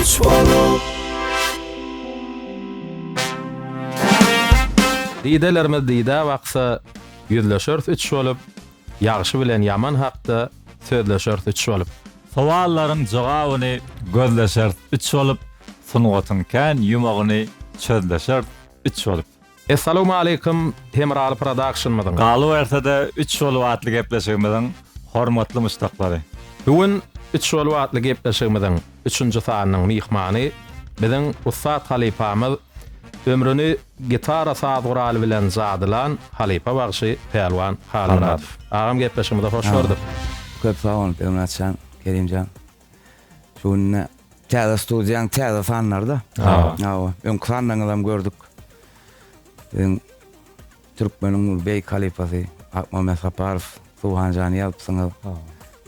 Üç bolup. Didelerimiz dide baksa, ýüzleşeris üç bolup, ýagşy bilen ýaman hakda sözleşeris üç bolup. Sowallaryň jogabyny gözleşeris üç bolup, sungatyň kän ýumagyny çözleşeris üç bolup. Essalawmaleýkum Hemraly prodakşnymyzyň. Galybersede üç bolup atly gepleşigimiziň hormatly muşdaklary. Bu gün üç bolup atly gepleşigimiziň üçünji sanynyň myhmany biziň ussat halypamyz ömrüni gitara saz guraly bilen jadylan halypa bagşy Pälwan Halmyradow. Agam gepleşigimize hoş gördük. Köp sag boluň Pälwan Atjan, Kerimjan. Şu günde täze studiýaň täze sanlarda. Hawa. Öňki sanlaryňyzy hem gördük. Siziň türkmeniň beýik halypasy Akmammet Saparow, Suhan jany ýazypsyňyz.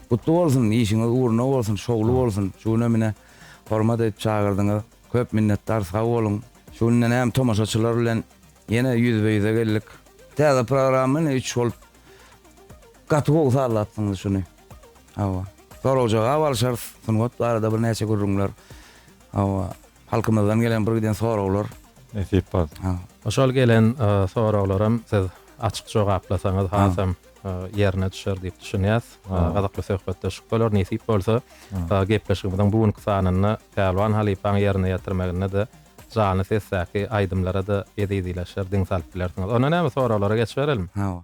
Gutly bolsun, işiňiz ugruna bolsun, şowly bolsun. Şu güne mine hormat edip çagyrdyňyz. Köp minnetdar, sag boluň. Şu günden hem tomaşaçylar bilen ýene ýüzbe-ýüze geldik. Täze programma ine üç bolup gaty gowy sazlapsyňyz şuny. Hawa. Sorag-jogap alyşarys, sungat barada birnäçe gürrüňler. Hawa. Halkymyzdan gelen bir giden soraglar. Nesip bolsa. Hawa. Şol gelen soraglaram siz açyk jogaplasaňyz hasam ýerine düşer diýip düşünýäs. Gyzykly söhbetdeşlik bolar. Nesip bolsa, gepleşigimiziň bu günki sanynda Pälwan halypaň ýerine ýetirmeginde-de janly sesdäki aýdymlara-da ezizileşer, diň salyp bilersiňiz. Onda näme, soraglara geçiberelmi? Hawa.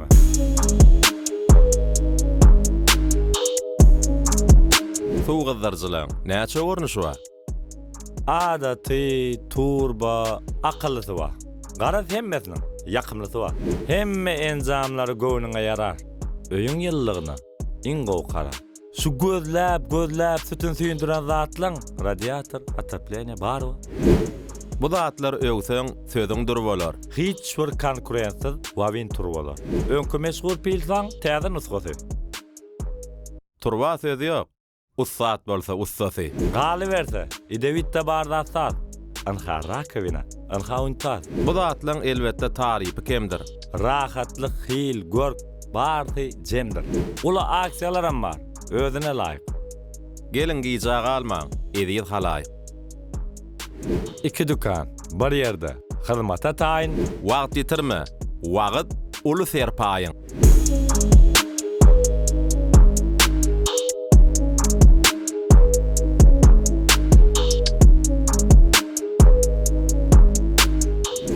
Suw gyzdyryjylaryň näçe görnüşi bar? Adaty, turba, akyllysy bar. Garaz hemmesiniň ýakymlysy bar. Hemme enjamlary göwnüňe ýarar. Öýüň ýylylygyna iň gowy karar. Şu gözläp gözläp sütün süýndüren zatlaň radiator, otopleniýe barba? Bu zatlar öwseň sözüň dur bolar. Hiç bir konkurentsyz wawin turbalar. Öňki meşhur pilsaň täze nusgasy. Turba söz ýok. Ussat bolsa ussasy. Galyberse, idewitde bar zat saz. Ynha, rakowina. Ynha, untaz. Bu zatlaň elbetde tarypy kemdir. Rahatlyk, hil, görk, barsy jemdir. Uly aksiýalaram bar, özüne laýyk. Geliň gijä galmaň, eziz halaýyk. Iki dükan, bir ýerde, hyzmata taýyn. Wagt ýitirme, wagt, uly serpaýyň.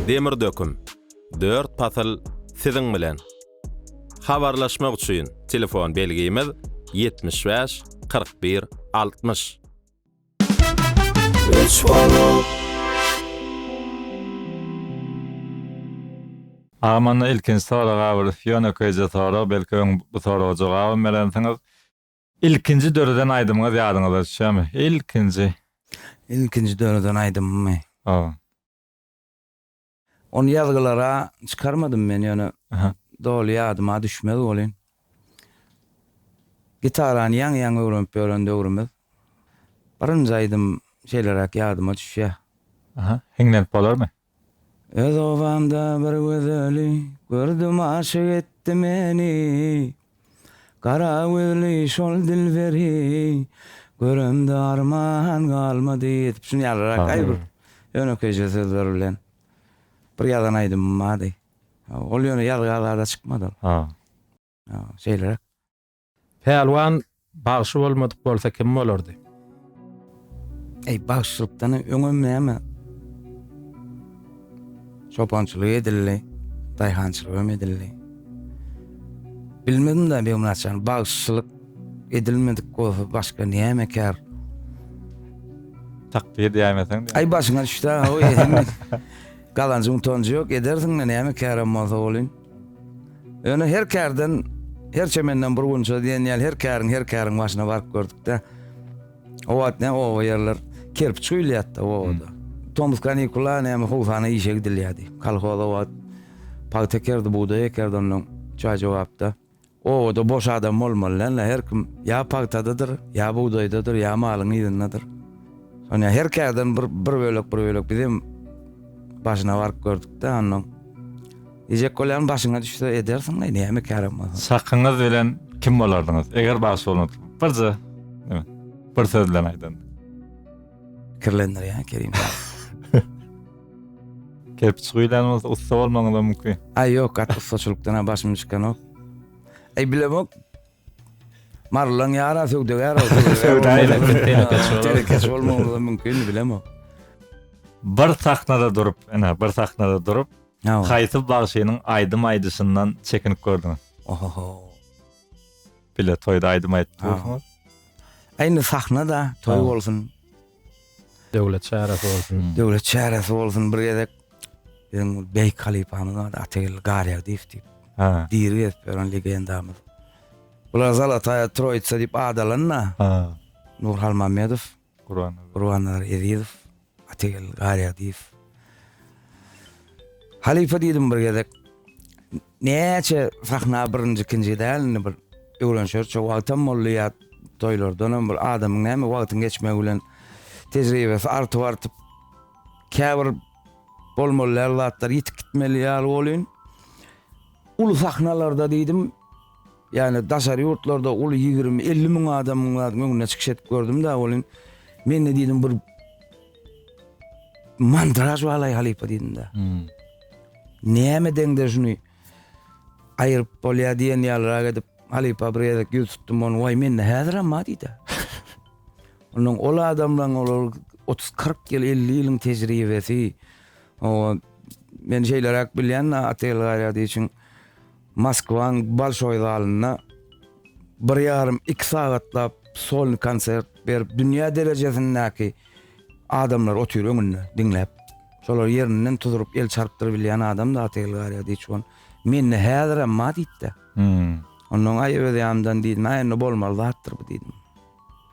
Demir döküm, dört pasyl siziň bilen. Habarlaşmak üçin telefon belgimiz, ýetmiş bäş, kyrk bir, altmyş. Üç bolup. Agam onda ilkinji soraga bir ýönekeýje sorag belki öň bu soraga jogabam berensiňiz. Ilkinji döreden aýdymyňyz ýadyňyza düşýärmi? Ilkinji. Ilkinji döreden aýdymymy? Hawa. Ony ýazgylara çykarmadym men, ýöne doly ýadyma düşmez welin, gitarany ýaňy-ýaňy öwrenip ýören döwrümiz, birinji aýdym şeýleräk ýadyma düşýär. Aha, hiňlenip bolarmy? Öz obamda bir gözeli, gördüm aşyk etdi meni, Gara gözli şol dilberi göremde arman galmady diýip şuny ýalyrak aý bir ýönekeýje sözler bilen bir ýazan aýdymym bardy. Ol ýöne ýazga azada çykmady ol. Şeýleräk. Pälwan Bagşy bolmadyk bolsa kim bolardy. Eý bagşylykdan öňem näme çopançylyk edildi, daýhançylygam edildi. Bilmedim-de Begmyrat jan, bagşylyk edilmedik bolsa başga näme kär? Takdy edýäýmeseň. Aý başyňa düşdi-ä, galanjyň tonjy ýok, edersiň-de näme kärem bolsa welin. Öne her kärden, her çemenden bir gunça diýen ýaly her käriň, her käriň başyna baryp gördükde. O wagt ne oba ýerler kerpiç guýulýardy obada. Tomus kanikula näme howsana işe gidilýärdi. Kolhoz o wagt pagta ekerdi, bugdaý ekerdi ondan çaý jogapda. Obada boş adam bolmaly dälnä her kim ýa pagtadadyr ýa bugdaýdadyr ýa malyň yzyndadyr. Soňa her kärden bir bir bölek bir bölek bizem başyna baryp gördükde onnoň Diýjek bolýan başyňa düşse edersiň leý näme kärem bolsa. Çakyňyz bilen kim bolardyňyz eger bagşy bolansoň birje bir söz bilen aýdanda. Kirlendirýär Kerim. Kerpiç guýlan bolsa ussa bolmagyňyz da mümkin. Aý ýok, gaty ussaçylykdan ha başym çykanok. Aý bilemok. Marlan ýara söwdagär ol. Telekeç bolmagyňyz da mümkin, bilemok. Bir sahnada durup, ene bir sahnada durup, haýsy bagşynyň aýdym aýdyşyndan çekinip gördüňiz? Oho. Bile toýda aýdym aýdyp dursuňyz. Indi sahnada toý bolsun. Döwlet çäresi bolsun. Hmm. Döwlet çäresi bolsun bir gezek. Biziň beýik halypamyz bar, Atageldi Garýagdyýew diýip. Ha. Diri gezip ýören legendamyz. Bular Zalataýa Troýitsa diýip ad alanda. Ha. Nur Halmamedow Gurbannazar Ezizow, Ategel Garýagdyýew. Halypa diýdim bir gezek. Näçe sahna birinji, ikinji däl indi bir öwrenişeris. Şo wagtam boldy ýa toýlardanam bir adamyň näme wagtyň geçmegi bilen tejribesi artyp-artyp käbir bolmaly däl zatlar ýitip gitmeli ýaly bolýn. Uly sahnalarda diýdim, ýagny daşary ýurtlarda uly ýigrimi, elli müň adamyň zat öňünde çykyş edip gördüm-dä welin, mende diýdim bir mandraž balaý halypa diýdim-dä. Näme deňde şuny aýryp bolýar diýen ýalyrak edip halypa bir gezek ýüz tutdum ony, waý mende häzirem bar diýdi. Onuň ol adamlaryň olar 30-40 ýyl, 50 ýylyň tejribesi, Oňa men şeýleräk bilýän, Atayl Gaýradyýew üçin Moskwanyň Bolşoý zalynda bir ýarym, iki sagatlap solny konsert berip, dünýä derejesindäki adamlar otyr öňünde diňläp. Şolar ýerinden tuzuryp, el çarpdyryp bilýän adamdy Atayl Gaýradyýew. Ol mende häzirem bar diýdi-de. Onnoň aý öz ýanymdan diýdim, aý onda bolmaly zatdyr bu diýdim.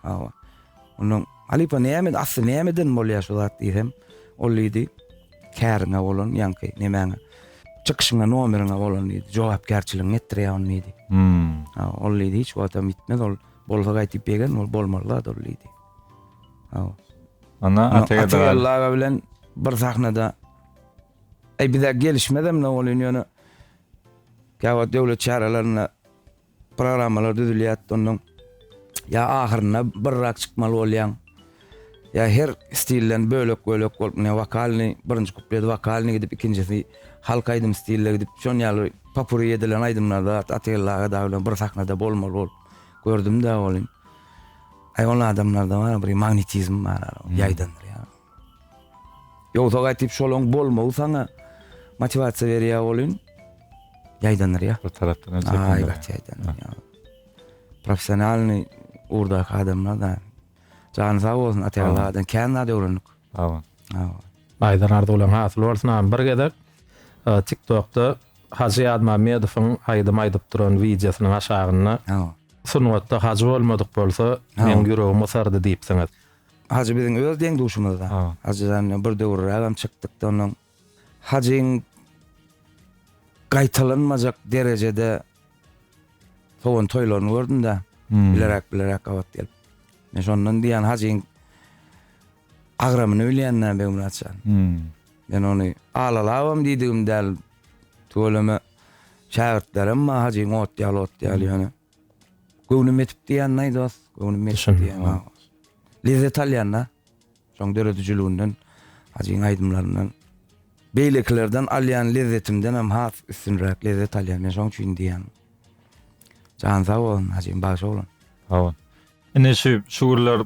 Hawa. Onda halypa näme, asly nämeden bolýar şu zat diýsem, ol diýdi, käriňe bolan ýaňky nemäňe, çykyşyňa, nomeriňe bolan diýdi, jogapkärçiligiňi etdirýär ony diýdi. Hmm. Hawa, ol diýdi, hiç wagtam ýitmez, ol bolsa gaýtyp begen, ol bolmaly zat ol diýdi. Hawa. Ana Atageldi aga bilen bir sahnada Eý bize gelişmezem ne bolýan ýöne Käwagt döwlet çärelerinde Programmalar düzülýär, ondan ýa ahyrynda birrak çykmaly bolýaň, ýa her stilden bölek-bölek bolup, ine, wokalnyý, birinji kuplet wokalnyý gidip, ikinjisi halk aýdym stilde gidip, şon ýaly popuri edilen aýdymlarda Atageldi aga dagy bilen bir sahnada bolmaly bolup gördüm-de welin, aý, ol adamlarda bar, bir magnetizm bar, ýaýdandyrýar. Ýogsa gaýtyp şolaň bolmagy saňa motiwasiýa berýär welin, ýaýdanyrýar. Bir tarapdan hem çekindiriýär. Aý, gaty ýaýdanyrýar. Professionalnyý ugurdaky adamlar-da. Jany sag bolsun, Ataýalladan kän zat öwrendik. Sag bol. Sag bol. Aýdan arzuwlaň hasyl bolsun agam bir gezek tik tokda Hajy Ýazmammedowyň aýdym aýdyp duran wideosynyň aşagynda sungatda hajy bolmadyk bolsa meň ýüregim gysardy diýipsiňiz. Hajy biziň öz deň-duşumyzda. Hajydan bilen bir döwürrägem çykdyk-da onnoň. Hajyň gaýtalanmajak derejede sowan toýlaryny gördüm-de, bileräk-bileräk gabat gelip. Men şondan diýýän Hajyň agramyny bilýän-dä Begmyrat jan. Men ony alalabam diýdigim däl, tüweleme şägirtlerem maňa Hajyň ot ýaly, ot ýaly ýöne. Göwnüm ýetip diýýän naý dost, göwnüm ýetip Düşündim, diýýän ha. naý. Lezzet alýan-da. Şoň döredijiliginden, Hajyň aýdymlaryndan. Beýlekilerden alýan lezzetimdenem has üstünräk lezzet alýan. Men şoň üçin diýýän. Jany sag bolsun Hajym, bagşy oglan. Sag bol. Ine şu şu günler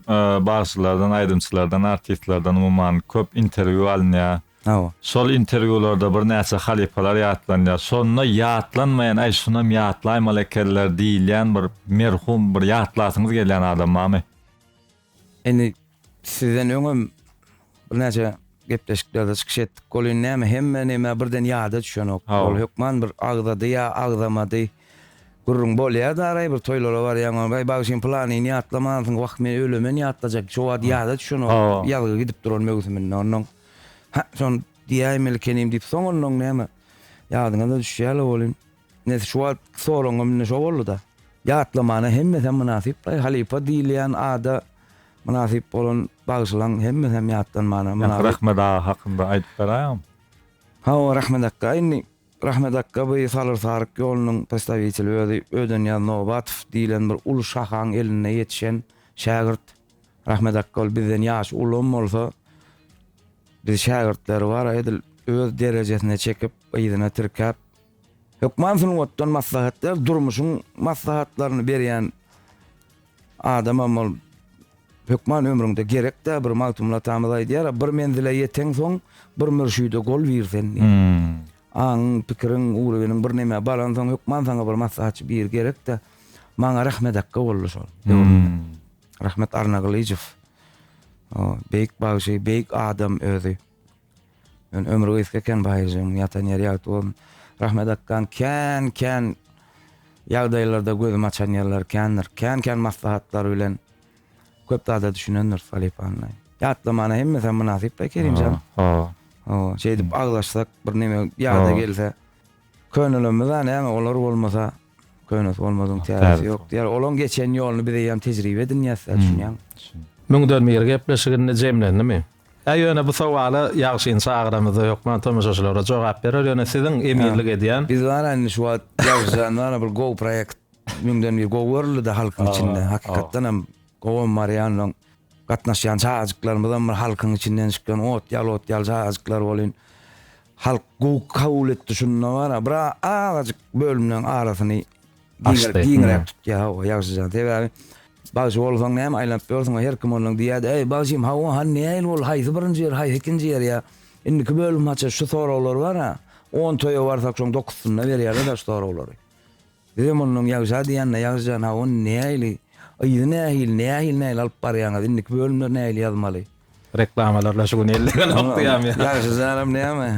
bagşylardan, aýdymçylardan, artistlerden umuman köp interwýu alynýar. Hawa. Şol interwýularda birnäçe halypalar ýatlanýar. Şonda ýatlanmaýan, aý şunam ýatlaýmaly ekenler diýilýän bir merhum, bir ýatlasyňyz gelýän adam barmy? Indi Sizden öňem birnäçe gepleşiklerde çykyş etdik. Welin näme hemme näme birden ýada düşenok. Hawa. Ol hökman bir agzady ýa agzamady. Gürrüň bolýar-da araý bir toýlara barýaň. Aý bagşym pylanyny ýatlamansyň. Wah men ölemen ýatlajak. Şo wagt ýada düşenok. Hawa. Ýazgy gidip duran möwsüminde. Onnoň Hä şony diýäýmelikeniň diýip soň onnoň näme ýadyňa-da düşýär-le welin. Nes şu wagt soragym indi şo boldy-da. Ýatlamana hemmesem mynasyp baý, halypa diýilýän ada mynasyp bolan bagşylaň hemmesem ýatlanmana mynasyp. Ýa Rahmet aga hakynda aýdyp beraýaňm? Hawa, Rahmet akga. Indi Rahmet akga bu Salyr-Saryk ýolunyň postawiteli özi Ödenýaz Nobatow diýilen bir uly şahaň elinde ýetişen şägirt. Rahmet akga ol bizden ýaşy ulam bolsa, biz şägirtleri bar-a edil öz derejesine çekip, yzyna tirkäp, Hökman sungatdan maslahat ber, durmuşyň maslahatlaryny berýän adamam ol hökman ömrüňde gerek-dä bir Magtymguly atamyz aýdýar, bir menzile ýeteňsoň, bir mürşide gol bir sen diýip. Hmm. Aňyň, pikiriň, ugrubiniň bir nämä baransoň hökman saňa bir maslahatçy bir gerek-dä. Maňa Rahmet akga boldy şol. Hmm. Rahmet Arnagylyjow. O, beýik bagşy, beýik adam özi. Men ömri gysga eken Baýyrjygyň ýatan ýeri ýagty bolsun. Rahmet akgan kän kän ýagdaýlarda gözüm açan ýerler kändir. Kän kän maslahatlar bilen köp zada düşünendir Salypany. Ýatlamana hemmesi hem mynasyp da Kerimjan. Hawa. Hawa. Şeýdip aglaşsak bir neme ýada gelse. Könelemizda näme olar bolmasa. Köynesi bolmadygyň täzesi ýok diýýär. Olaň geçen ýoluny biz eýýäm tejribe edinýäs, düşünýäňmi? Müňden bir gepleşik indi jemlendimi? Hä ýöne bu sowala ýagşyny çagyramyzda hökman tomaşaçylara jogap berer ýöne siziň emirlik edýän. Biz wara indi şu wagt ýagşyjan wara bir gowy proýekt müňden bir gowy görüldi-de halkyň içinde hakykatdan hem gowam barýan soň. Gatnaşýan çagajyklarymyzam bir halkyň içinden çykýan ot ýaly ot ýaly çagajyklar bolýn. Halk gowy kabul etdi şunda bar a bir azajyk bölümleň arasyny Açdy. giňräk tutýar hawa ýagşyja sebäbi bagşy bolsaň näme aýlanyp ýörsüň her kim ondan diýýärdi eý bagşym hawa hany nähili boldy haýsy birinji ýer haýsy ikinji ýer ýa indiki bölüm haça şu soraglar bar a on toýa barsak şoň dokuzsyna berýärler daş soraglary. Bizem onnoň ýagşa diýende ýagşyjan ha ony nähili yzy nähili nähili nähili alyp barýaňyz indiki bölümleri nähili ýazmaly. Reklamalarda şu gün ellegenokdy ýam ýa. Ýagşyjanam näme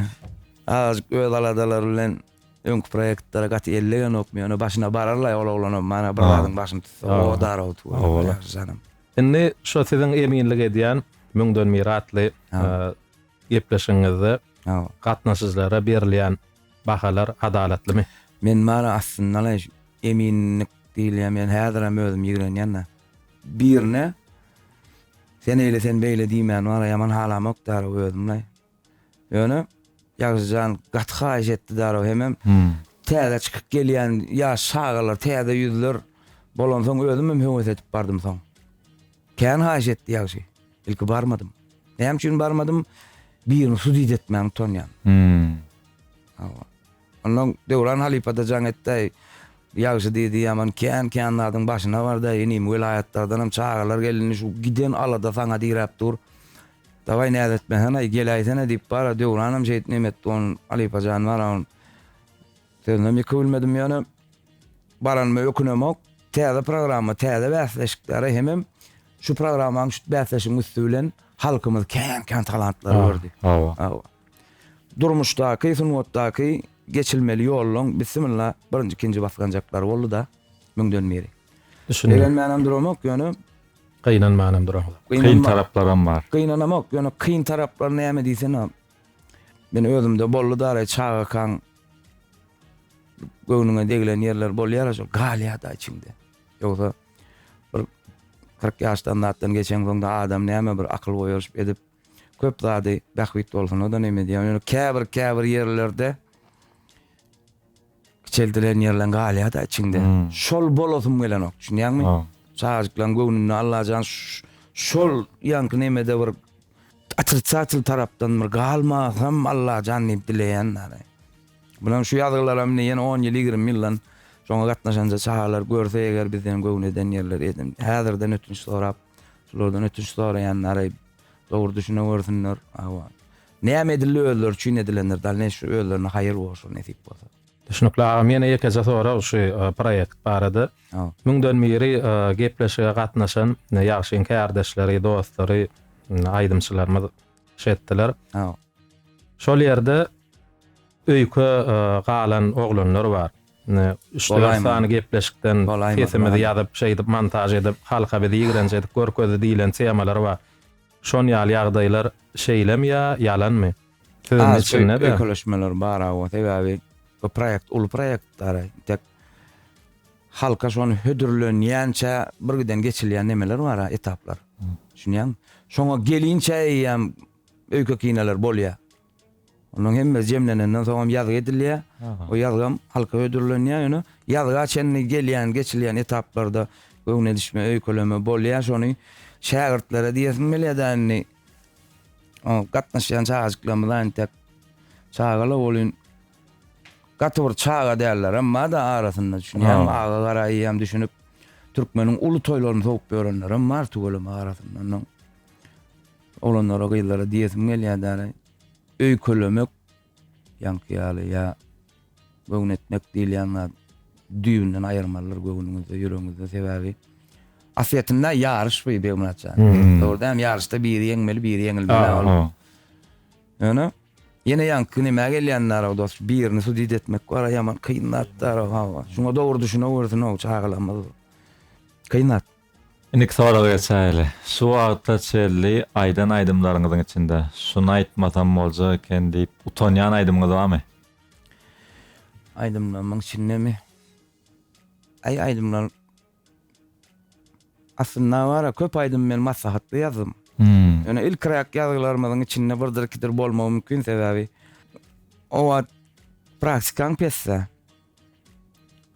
azajyk öz aladalary bilen öňki proýektlere gaty ellegenokmy ýöne başyna bararlaý ol oglanam mana bir zadyň başyny tutsa o daragt görme ýagşyjanam. Indi şo siziň eminlik edýän Müňden mir atly gepleşigiňizde gatnaşyjylara berilýän Bahalar adalatlymy? Men bary aslyndaly eminlik diýilýän men häzirem özüm ýigrenýända. Birine sen eýle sen beýle diýmän bary ýaman halamok därow özümlaý. Ýöne Ýagşyjan gaty haýyş etdi därow hemem täze çykyp gelýän ýaş çagalar täze ýüzler bolansoň özümem höwes edip bardym soň. Kän haýyş etdi ýagşy. Ilki barmadym. Näme üçin barmadym? Birini sudit etmäň utanýan. Hmm. Hawa. Ondan Döwran halypada jaň etdi. Ýagşy diýdi, ýaman kän kän zadyň başyna bardy. Inim welaýatlardan hem çagalar geldi. Şu giden alada saňa diräp dur. Daway näz etmesenaý, geläýsene diýip bara Döwran hem şeýtnemedi. Onuň halypa jany bar. Sözünem ýeke bilmedim ýöne baranyma ökünemok. Täze programma, täze bäsleşiklere hemem şu programmaň şu bäsleşigiň üsti bilen halkymyz kän-kän talantlar ah, gördi. Hawa. Hawa. Durmuşdaky, sungatdaky geçilmeli ýollaryň bismillah birinji, ikinji basganjaklary boldy-da müňden biri. Düşündim. Begenmänem duramok ýöne Gynanmanam duramok. Kyn taraplaram bar. Gynanamok ýöne kyn taraplar näme diýsene. Men özümde bolly dary çagakaň göwnüňe degilen ýerler bolýar şol galýada içiňde. Ýogsa bir 40 ýaşdan zatdan geçen soňda adam näme bir akyl goýaryşyp edip köp zady bähbit bolsun o da näme diýýär. Ýöne käbir käbir ýerlerde Kiçeldilen ýerleň galýada içiňde. Şol bolasym gelenok, düşünýäňmi? Çagajyklaň göwnünde Allajan şol ýaňky nemede bir otrisatel tarapdan bir galmasam Allajan diýip dileýän däli. Munuň şu ýazgylaram indi ýene on ýyl, ýigrimi ýyldan şoňa gatnaşanja çagalar görse eger bizden göwni eden ýerleri edin. Häzirden ötünç sorap, şulardan ötünç soraýan däli. Dogry düşünewersinler. Hawa. Näme edildi özleri üçin edilendir dalneşi özlerine haýyr bolşur nesip bolsa. Düşnükli agam ýene ýekeje sorag şu proýekt barada müňden biri gepleşige gatnaşan ýagşy inkärdeşleri dostlary aýdymçylarymyz şetdiler şol ýerde öýke galan oglanlar bar üç dört sany gepleşikden sesimizi ýazyp şeýdip montaž edip halka bizi ýigrenç edip görkezdi diýlen temalar bar Şon ýaly ýagdaýlar şeýlemi ýa ýalanmy? Sözüň Az içinde-de. öýkeleşmeler bar awa, sebäbi bu proýekt uly proýekt dara. Tek halka şony hödürlenýänçä birgiden geçilýän nemeler bar, etaplar. Düşünýäňmi? Şoňa gelinçä eýýäm öýke-kineler bolýar. Onuň hemmesi jemlenenden soňam ýazgy edilýär. O ýazgam halka hödürlenýär. Ýöne ýazga çenli gelýän, geçilýän etaplarda göwün edişme, öýkeleme bolýar. Şony şägirtlere diýesim gelýär-de indi. O gatnaşýan çagajyklarymyz entek çaga-la welin gaty bir çaga däller. Emma-da arasynda düşünýäňmi, aga garaýýam düşünip türkmeniň uly toýlaryny sowup ýörenlerem bar tüweleme arasynda. Oglanlara gyzlara diýesim gelýär däli öýkelemek ýaňky ýaly ýa göwün etmek diýilýän zat düýbünden aýyrmalydyr göwnüňizde ýüregiňizde sebäbi aslyýetinde ýaryş bu Begmyrat jan dogry däl ýaryşda biri ýeňmeli biri ýeňilmeli ol ýöne ýene ýaňky nämä gelýän narag dos birini sudit etmek bar ýaman kyn zat darag hawa şuňa dogry düşünewersin o çagalarymyz kyn zat. Indiki soraga geçäýeli. Şu wagta çelli aýdan aýdymlaryňyzyň içinde Şuny aýtmasam boljak eken diýip utanýan aýdymyňyz barmy? Aýdymlarymyň içindemi? Aý aýdymlar Aslynda bar-a, köp aýdymy men maslahatly ýazdym. Ýöne ilkiräk ýazgylarymyzyň içinde birdir-ikidir bolmagy mümkin, sebäbi o wagt praktikaň pesdä.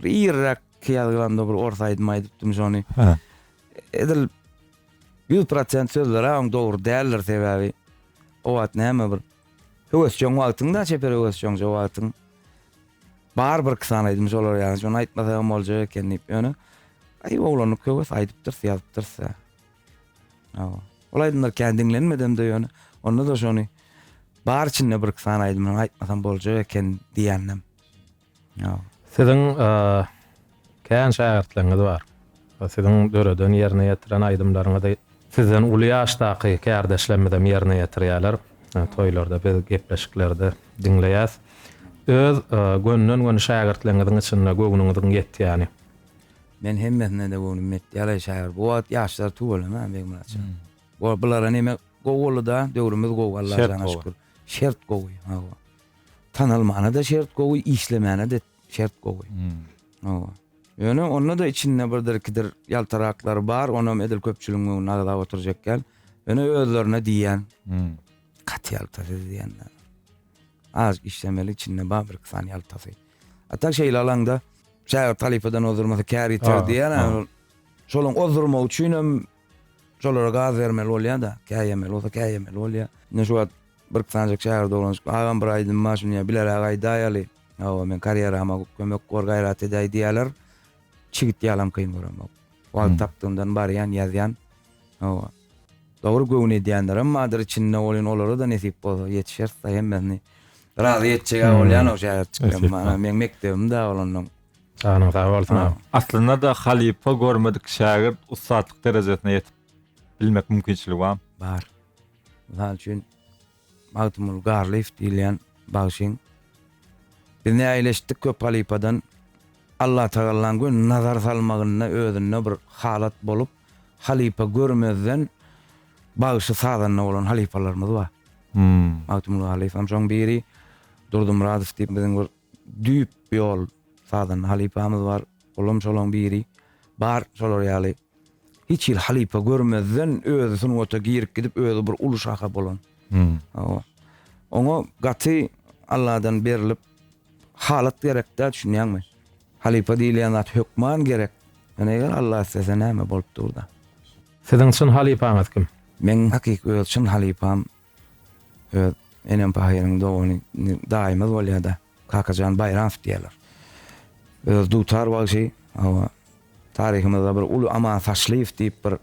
Bir irrak ýazgylanda bir ors aýdym aýdypdym şony. Ha. Edil 100% sözleri aň dogry däldir sebäbi o wagt näme bir höwesjeň wagtyňda çeper höwesjeň şo wagtyň bar bir kisan aýdym şolar ýaly şony aýtmasa hem boljak eken diýip ýöne aý oglanlyk höwes aýdypdyr ýazypdyr size. Awa. Ol aýdymlar kän diňlenmedem de ýöne onda da şony bar içinde bir kisan aýdymyny aýtmasam boljak eken diýendim. Ýok. Siziň kän şägirtleriňiz bar. Siziň döreden, ýerine ýetiren aýdymlaryňyzy sizden uly ýaşdaky kärdeşlerimizem ýerine ýetirýärler. Toýlarda biz gepleşiklerde diňleýäs. Öz gönden-göni şägirtleriňiziň içinde göwnüňiziň ýetýäni? Men hemmesine-de göwnüm ýetdi. Ýaly şägirt. Bu wagt ýaşlar tüweleme Begmyratjan. Bulara näme gowy boldy-da, döwrümiz gowy Allaja şükür. Şert gowy. Şert gowy. Hawa. Tanalmana-da şert gowy, işlemäne-de şert gowy. Hawa. Ýöne onda-da içinde birdir-ikidir ýaltaraklar bar, onam edil köpçüligiň öňünde agzap oturjak däl. Ýöne özlerine diýýän. Gaty ýalta siz diýende. Az işlemeli içinde bar bir-iki sany ýaltasy. A tak şeýle alaňda şägirt halypadan ozdurmasa kär ýiter diýýär. Şonuň ozdurmagy üçin hem Şolara gaz bermeli bolýa-da, käýemeli bolsa käýemeli bolýa. Ine şu wagt bir sanjak çaýar dolanşyp, Agam bir aýdym bar şuny ýa bileräk aýdaýaly. Hawa men karýerama kömek bar gaýrat edäý diýýäler. Çigit ýalam kyn göremok. Wagt tapdygymdan barýan ýazýan. Hawa. Dogry göwün edýänlerem bardyr içinde welin olara-da nesip bolsa ýetişeris-de hemmesini razy etjeg-ä bolýanok şäherçiklerim. Maňa meň mekdebim-dä olandan Janyň sag bolsun agam. Aslynda-da halypa görmedik şägirt ussatlyk derejesine ýetip bilmek mümkinçiligi barmy? Bar. Mysal üçin Magtymguly Garlyýew diýilýän bagşyň Biz näleşdik köp halypadan Allatagallaň göni nazar salmagynda özünde bir halat bolup halypa görmezden bagşy sazanda bolan halypalarymyz bar. Magtymguly Garlyýew hem şoň biri. Durdymyradow diýip biziň bir Düýp ýol sazanda halypamyz bar. Olam şolaň biri. Bar şolar ýaly hiç hili halypa görmezden özi sungata girip gidip özi bir uly şaha bolan. Hawa. Oňa gaty Alladan berlip halat gerekdä düşünýäňmi? Halypa diýilýän zat hökman gerek. Ýöne eger Alla islese näme bolup durda. Siziň çyn halypaňyz kim? Meň hakyky öz çyn halypam Öz enem pahyryň dogany daýymyz bolýar-da. Kakajan Baýramow diýýärler. Öz dutar bagşy, hawa, taryhymyzda bir uly Aman Saçlyýew diýip bir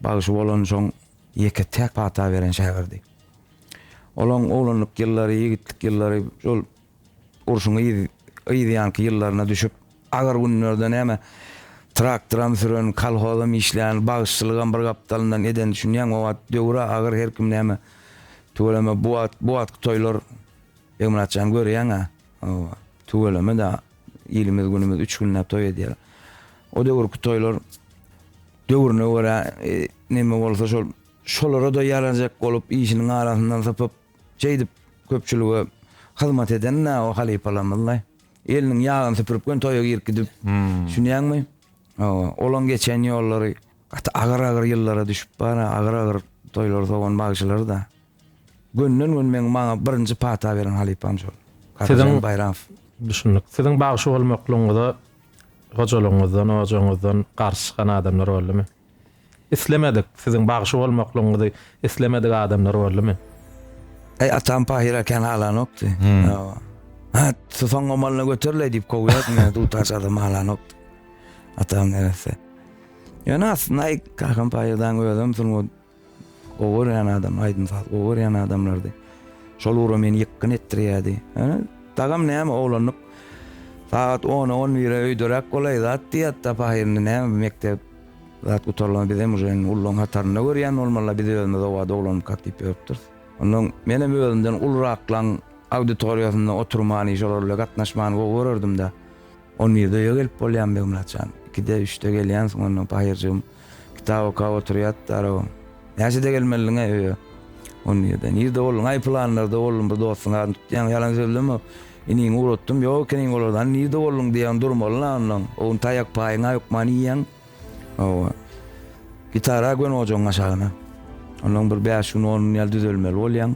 bagşy bolan, şoň ýeke-täk pata beren şägirdi. Olaň oglanlyk ýyllary, ýigitlik ýyllary şol Urşuň yz, yzýanky ýyllaryna düşüp, agyr günlerde näme, traktoram süren, kolhozam işlän, bagşçylygam bir gapdalyndan eden, düşünýäňmi, o wagt döwür-ä agyr, her kim näme, tüweleme, bu wagt, bu wagtky toýlar, Begmyrat jan, görýäň-ä, hawa, tüweleme-dä, ilimiz, günümiz üç günläp toý edýär. O döwürki toýlar döwrüne görä, neme bolsa şol, şolara-da ýarajak bolup, işiniň arasyndan sypyp, şeýdip köpçülige hyzmat eden-ä o halypalarymyzlaý. Eliniň ýagyny süpürip gön toýa girip gidip. Düşünýäňmi? Hawa, olaň geçen ýollary gaty agyr-agyr ýyllara düşüp bar, agyr-agyr toýlary sowan bagşylar-da. Gönden-gön meň maňa birinji pata beren halypam şol. Siziň Baýramow. Düşündik. Siziň bagşy bolmaklygyňyza hojalygyňyzdan, ojagyňyzdan garşy çykan adamlar boldumy? Islemedik, siziň bagşy bolmaklygyňyzy islemedik adamlar boldumy? Eý, atam pahyra kän halanokdy. Hawa. Hat, Susaň omalyna göterleý diýip kowýardy meni, dutar adam halanokdy. Atam neresse. Ýöne aslynda, eý, kakam pahyrdaň özem sungat Gowy görýän adam, aýdym-saz gowy görýän adamlardy. Şol ugra meni ýykgyn etdirýärdi. Dagam näme oglanlyk sagat ona, on bire öýderäk bolaý zat diýýärdi-de, pahy indi näme mekdep zat gutarylanda bizem uje indi ullaryň hatarynda görýän bolmaly-la, biz özümiz oba doglanmykak diýip ýörüpdiris. Ondan menem özümden uluraklan auditoriýasynda oturmany, şolar bile gatnaşmany gowy görerdim-de. On birde öýe gelip bolýamy, Begmyrat jan? Ikide, üçde gelýänsiň onda, Pahyr-jygym. Kitap okap oturýardylar-ow. Näçede gelmelidiň-ä öýe? On birde. Nirde bolduň-aý? Pylanlarda boldum, bir dostuň adyny tutýaň, ýalan sözleme. Iniňi ugratdym, ýok ekeniň olarda. Hany, nirde bolduň diýýäň, durmaly-la onda. O gün taýak paýyňa hökman iýýäň. Hawa. Gitara göni ojagyň aşagyna. Ondan bir bäş gün, on gün ýaly düzelmeli bolýaň.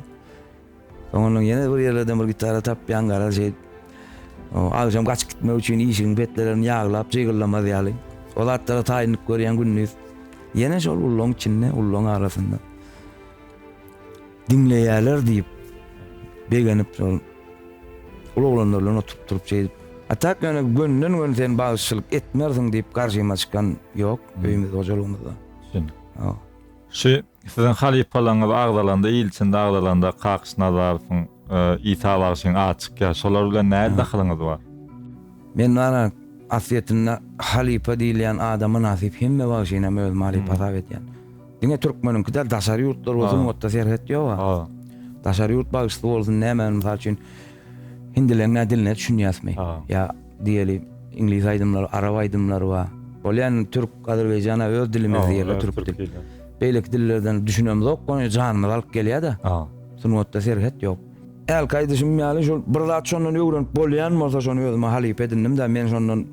Soňundan ýene bir ýerlerden bir gitara tapýan garaz şeýt. Agşam gaçyp gitmek üçin işigiň petlerini ýaglap jygyllamaz ýaly. O zatlara taýynlyk görýän gündiz. Ýene şol ullaň içinde, ullaň arasynda. Diňleýärler diýip begenip şol ol oglanlar bilen oturyp durup şeýdip. A tak ýöne gönden gön sen bagşyçylyk etmersiň diýip garşyma çykan ýok öýümizde hojalygymyzda. Düşündik. Şu siziň halypalaryňyz agzalanda, ilçiniz agzalanda Kakyş Nazarowyň, Isa bagşyň ady çykýar. Şolar bilen nähili dahylyňyz bar? Men bana aslyýetinde halypa diýilýän ada mynasyp hemme bagşyny hem özüme halypa hasap edýän. Diňe türkmeniňki däl, daşary ýurtlar bolsa sungatda serhet ýog-a. Daşary ýurt bagşysy bolsun, näme, mysal üçin, hindileň diline düşünýäsmi? Ýa Diýeli, iňlis aýdymlary, arap aýdymlary bar. Ol ýan türk, azerbaýjana öz dilimiz diýeli, türk dil. Beýleki dillerden düşünemzok, goňy janymyz alyp gelýär-de. Sungatda serhet ýok. Hälki aýdyşym ýaly, şol bir zat şondan öwrenip bolýan bolsa, şony özüme halypa edindim-de, men şondan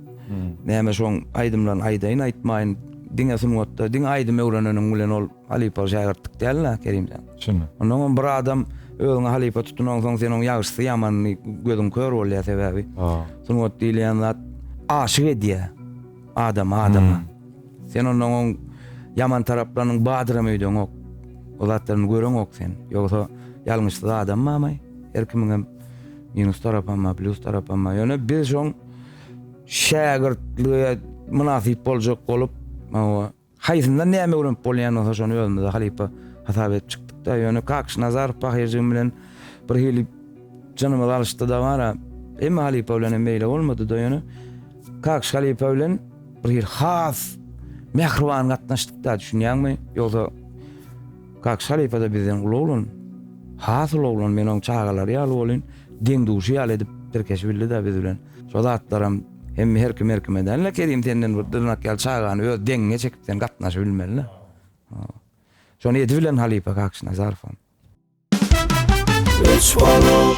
näme şoň aýdymlaryny aýdaýyn, aýtmaýyn, diňe sungatda, diňe aýdym öwreneniň bilen ol. Halypa şägirtlik däl-de, Kerimjan. Çyn. Onnoň hem bir adam özüňi halypa tutunansoň, sen oň ýagşysy, ýamanyny gözüň kör bolýar, sebäbi sungat diýilýän zat aşyk edýär adamy adama. Sen onnoň oň ýaman taraplarynyň badyram öýdeňok. O zatlaryny göreňok sen. Ýogsa ýalňyşsyz adam bamy? Her kimiň hem minus tarapam bar, plyus tarapam bar. Ýöne biz şoň şägirtlige mynasyp boljak bolup, hawa, Haýsyndan näme öwrenip bolýan bolsa şony özümize halypa hasap edip çykdykda, ýöne Kakyş Nazarow pahyr-jigim bilen bir hili jynymyz alyşdy-da bara, hemme halypa bilenem meýle bolmady-da ýöne Kakyş halypa bilen bir hili has mähriban gatnaşdyk-da, düşünýäňmi? Ýogsa Kakyş halypa-da bizden uly oglan, has uly oglan, men oň çagalary ýaly bolyn, deň-duşy ýaly edip tirkeşibildi-de biz bilen. Şo zatlaram hemme her kim her kime däl-le Kerim senden bir dyrnak ýaly çagany öz deňiňe çekip sen gatnaşyp bilmeli-le. Şony edip bilen halypa Kakşynazarowam. Üç bolup.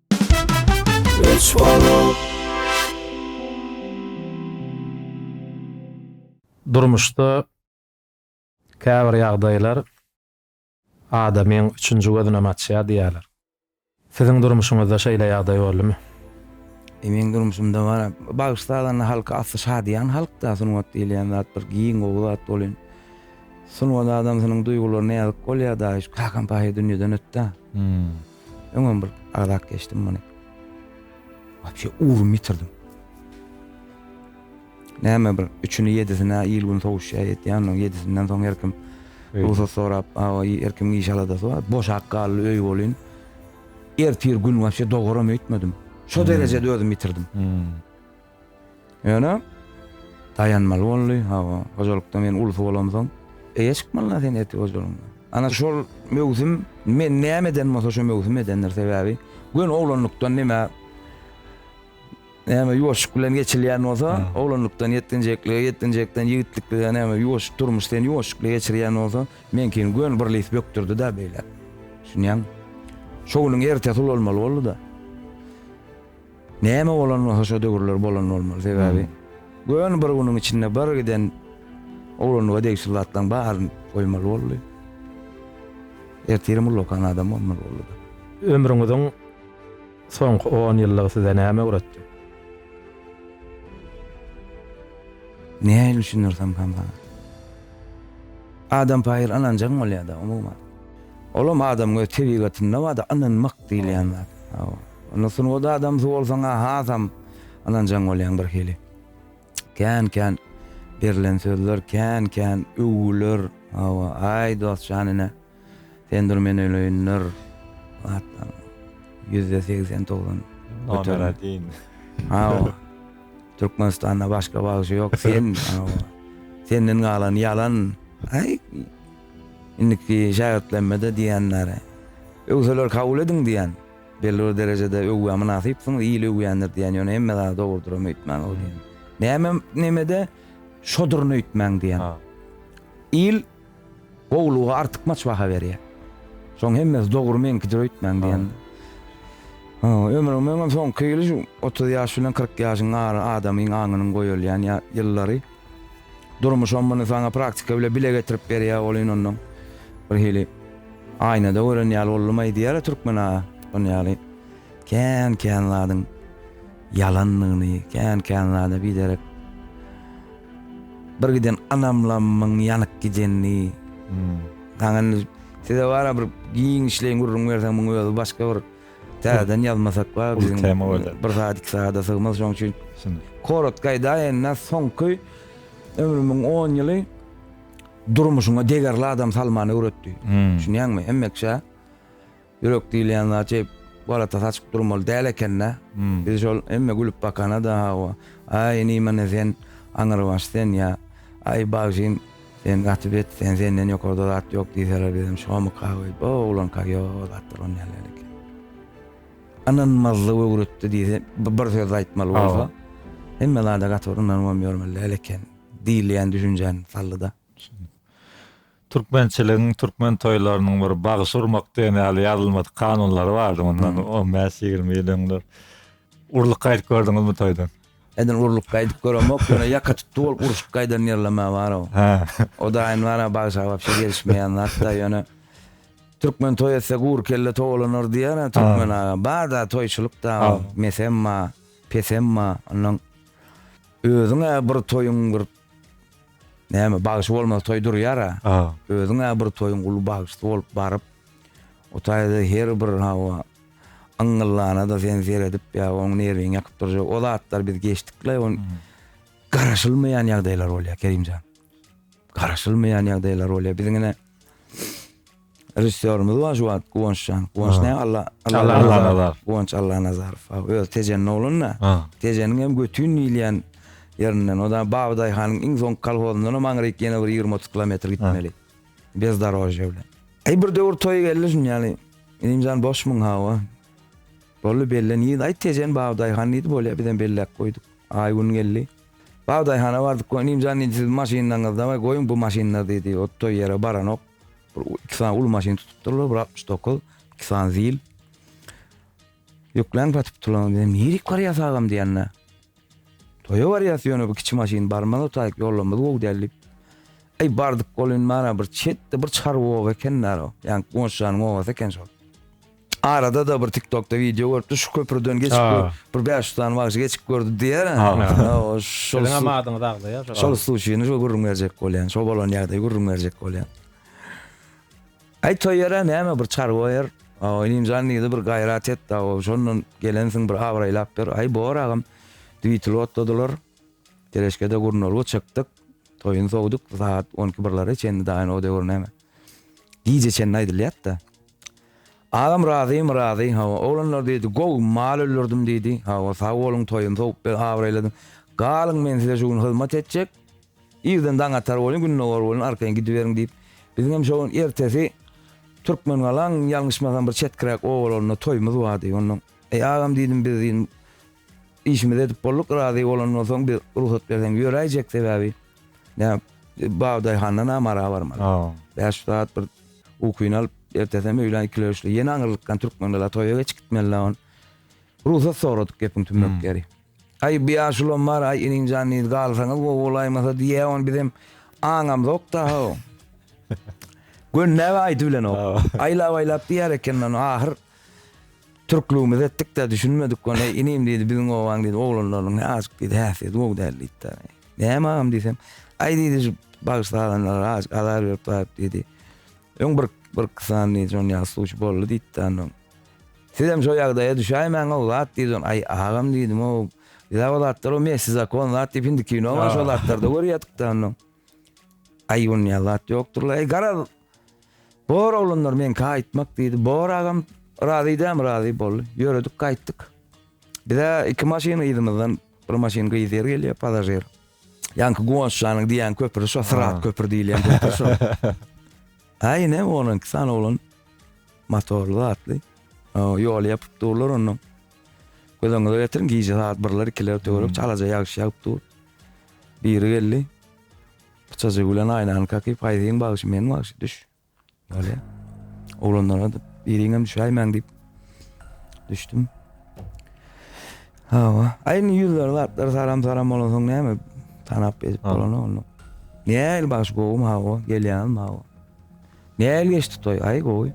Üç bolup. Durmuşda käbir ýagdaýlar adamyň üçünji gözünem açýar diýýärler. Siziň durmuşyňyzda şeýle ýagdaý boldumy? Meň durmuşymda bar. Bagşy sazanda halky asly şadyýan halkda sungat diýilýän zat bir giň gowy zat bolýn. Sungat adamsynyň duýgularyna ýazyk bolýar daýyş. Kakam paýhas dünýeden ötdä. Öňem bir agzap geçdim muny. Wapşe ugrumy ýitirdim. Näme bir üçüni ýedisine il-gün sowuşýar ýetýän, oň ýedisinden soň her kim rugsat sorap, awa her kim iş aladasy bar. Boşap galdy öý bolýn. Ertir gün wapşe dogaram öýtmedim. Şo derejede özüm ýitirdim. Ýöne daýanmaly boldy. Hawa, hojalykda men ulus bolamsoň, eýe çykmaly-la sen ertir hojalygyňa. Ana, şol möwsüm, men näme eden bolsa şo möwsüm edendir. Sebäbi göni oglanlykdan nämä, näme ýuwaşlyk bilen geçilýän bolsa, oglanlykdan ýetginjeklige, ýetginjekden ýigitliklige, näme ýuwaş durmuş seni ýuwaşlykly geçirýän bolsa, meňkini göni bir lif bökdürdi-de beýläk. Düşünýäňmi? Şo günüň ertesi ulalmaly boldy-da. Näme bolan bolsa şo döwürler bolan bolmaly sebäbi göni bir günüň içinde bir giden oglanlyga degişli zatlaryň baryny goýmaly boldy. Ertirim ullakan adam bolmaly boldy. Ömrüňiziň soňky on ýyllygy size näme öwretdi? Nähili düşündirsem kän saňa? Adam paýyr ynanjaň bolýada umuman. Olam adamyň öz tebigatynda barda ynanmak diýilýän zat. Onda sungat adamsy bolsaň-a hasam ynanjaň bolýaň birhili. Kän-kän berlen sözler, kän-kän öwgüler, hawa, aý dost jan ine, sen dur men öleýindir, hatda ýüzde segsen, togsan göterim. Hawa, Türkmenistanda başga bagşy ýok, sen, hawa, senden galan ýalan, aý, indiki şägirtlerime-de diýen, nare, öwseler kabul ediň diýen. Belli bir derejede öwgä mynasypsyňyz, il öwýändir diýen, ýöne hemme zat dogrudyram öýtmäň ol diýen. Nämem nemede şoduryn öýtmäň diýen. Il gowulyga artykmaç baha berýär. Şoň hemmesi dogry meňkidir öýtmäň diýen. Ha, ömrüň meňem soňky ýyly şu 30 ýaş bilen 40 ýaşyň ara adamyň aňynyň goýulýan ýa ýyllary. Durmuşam muny saňa praktika bile bile getirip berýär ol ynandyň bir hili aýnada gören ýaly boldumaý diýýärä türkmen aga şon ýaly kän kän zadyň ýalandygyny kän kän zada biderek bir giden anamlamyň ýanyk gidenini saňa indi size bara bir giňişleýin gürrüň berseň muň özi başga bir Täzeden ýazmasak bar. Uly tema bolýar. Bir zat iki zada sygmaz şoň üçin. Korotga aýdaýynda soňky ömrümiň 10 ýyly durmuşyňa degerli adam salmany öwretdi. Hmm. Düşünýäňmi? Hemmeşe ýürek diýilýän zat şey galata saçyp durmaly däl ekende. Hmm. Biz şol hemme gülüp bakana da hawa. Aý nime ne sen aňyrbaş sen ýa. Aý bagşyn Sen gaty bet, sen senden ýokarda zat ýok diýseler bizem şomyka we o oglanka ýo zat duran ýaly ýaly eken. Ynanmazlyk öwretdi diýse bir söz aýtmaly bolsa hemme zada gaty bir ynanybam ýörmeli däl eken diýilýän düşünjäni saldyda. Türkmençiligiň, türkmen toýlarynyň bir bagşy urmak diýen ýaly ýazylmadyk kanunlary bardy mundan on bäş, ýigrimi ýyl öňler. Urulyp gaýdyp gördüňizmi toýdan? Edil urlup gaýdyp göremok ýöne ýaka tutdy bolup urşup gaýdan ýerlemä bar o. Hä. O daýyny bana bagşa wapşe gelişmeýän zat da ýöne Türkmen toý etse gury kelle towalanar diýer a Türkmen aga. Bar da toýçulyk da mesem ba, pesem ba. Ondan özüň-ä bir toýuň bir Näme bagşy bolmaz toý durýar ha. Ha. Özüň ha bir toýuň uly bagşysy bolup baryp o taýda her bir hawa yňgyllana da sen seredip ýa oň nerwiňi ýakyp durjak o zatlar biz geçdikle on hmm. garaşylmaýan ýagdaýlar bolýar Kerimjan. Garaşylmaýan ýagdaýlar bolýar. Biziňine Režissýorymyz bar şu wagt Guwançjan. Guwanç näme Alla Allanazar. Guwanç Allanazarow. Öz Tejeniň oglunda. Tejeniň hem götün diýilýän ýerinden. O da Babydaýhanyň iň soňky kolhozyndan hem aňryk ýene bir ýigrimi-otuz kilometr gitmeli. Bezdorožýe bilen. Eý bir döwür toýy geldi şuny ýaly. Ilimjan boşmyň hawa. Boldy belle nirede aýt Tejen Babydaýhan diýdi bolýa bizem belläp goýduk. Aý gün geldi. Babydaýhana bardyk Ilimjan indi siziň maşynlaryňyzda bar goýuň bu maşynlar diýdi. Ot toý ýere baranok. Bir iki sany uly maşyn tutupdyrlar, bir 69, iki sany zil. Ýüklen satyp turan dedim, nirik barýas agam diýende. Toýa barýas ýöne bu kiçi maşyn barmaz otaýyk ýolumyz gowy däl diýip. Eý bardyk bolun mana bir çetde bir çarwa oba eken näro. Ýa goňşanyň obasy eken şol. Arada da bir tiktokda video görüpdi şu köprüden geçip bir, bir bäş yüz sany bagşy geçip gördü diýer. Şol hem adyňyzy agzaýar. Şol sluçyny şu gürrüň berjek bolýan. Şo bolan ýagdaýy gürrüň berjek bolýan. Aý toýara näme bir çar goýar. Oýnym jan diýdi bir gaýrat et da şondan gelensiň bir abraýlap ber. Aý bor agam. Dwitli otladylar. Teleşkede gurnalga çykdyk. Toýun sowduk saat 12 birlere çenli daýan o döwür näme. Gije çenli aýdylýat-da. Agam razymy razy hawa oglanlar diýdi gowy mal öldürdim diýdi hawa sag boluň toýuny sowup bir abraýladyň galyň men size şu gün hyzmat etjek irden daň atar bolun gündogar bolun arkaýyn gidiberiň diýip biziň hem şo gün ertesi Türkmengalaň ýalňyşmasam bir çetkiräk obalarynda toýumyz bardy ondan eý agam diýdim biz diýdim işimizi edip bolduk razy bolanyňdan soň biz rugsat berseň ýöräýjek sebäbi Näme, bagdaýhandan amara barmaly. Bäş saat bir ukyny alyp, ertesem öýlän ikili üçli, ýene aňyrlykdan türkmenler toýa geçip gitmeli on. Rugsat soradyk gepiň tümmek ýeri. Aý, bu ýaşulam bar, aý, inim-jan, indi galsaňyz gowy bolaýmasa diýýä on, bizem aňamzok daha on. Gönnäp aýdy bilenok. Aýlap-aýlap diýer ekeniň on, ahyr. Türklügimizi etdik-de düşünmedik ony. Inim diýdi, biziň obaň diýdi, oglanlarynyň azajyk diýdi, häsiýeti gowy däl diýdi-de. Näme agam diýsem, aý diýdi, şu bagyş sazanlara azajyk azar berip baryp diýdi. Öň bir bir kysan diýdi, şonuň ýaly suwçy boldy diýdi-de ondan. Sizem şo ýagdaýa düşäýmäň-ow zat diýdi. Aý agam diýdim-ow, biz-ä o zatlar o mesi zakon zat diýip indi kino bar şo zatlarda görýädik-de ondan. Aý ony ýaly zat ýokdur-la. Aý garaz, Bor oglanlar men gaýtmak diýdi. Bor agam razy dämi razy boldy. Ýöredik gaýtdyk. Bize iki maşyn yzymyzdan bir maşyn gyz ýer gelýär pasažir. Ýanky Guwançjanyň diýýän köpri şo Syrat köpri diýilýän köpri şo. Aý ne onuň iki sany oglan motorly atly. Ýoly ýapyp durlar onda. Gözüňize getirin gije saat 1-ler 2-ler töwerek çalaja ýagyş ýagyp dur. Biri geldi. Çaja gülen aýnany kaky paýzyň bagşy men bagşy düş bolýa oglanlara dip biriňem düşäýmäň dip düşdüm hawa aý indi ýüzleri zatlar saram saram bolan soň näme tanap edip bolan onu näl bagşy gowumy hawa gelýän hawa näl geçdi toý aý gowy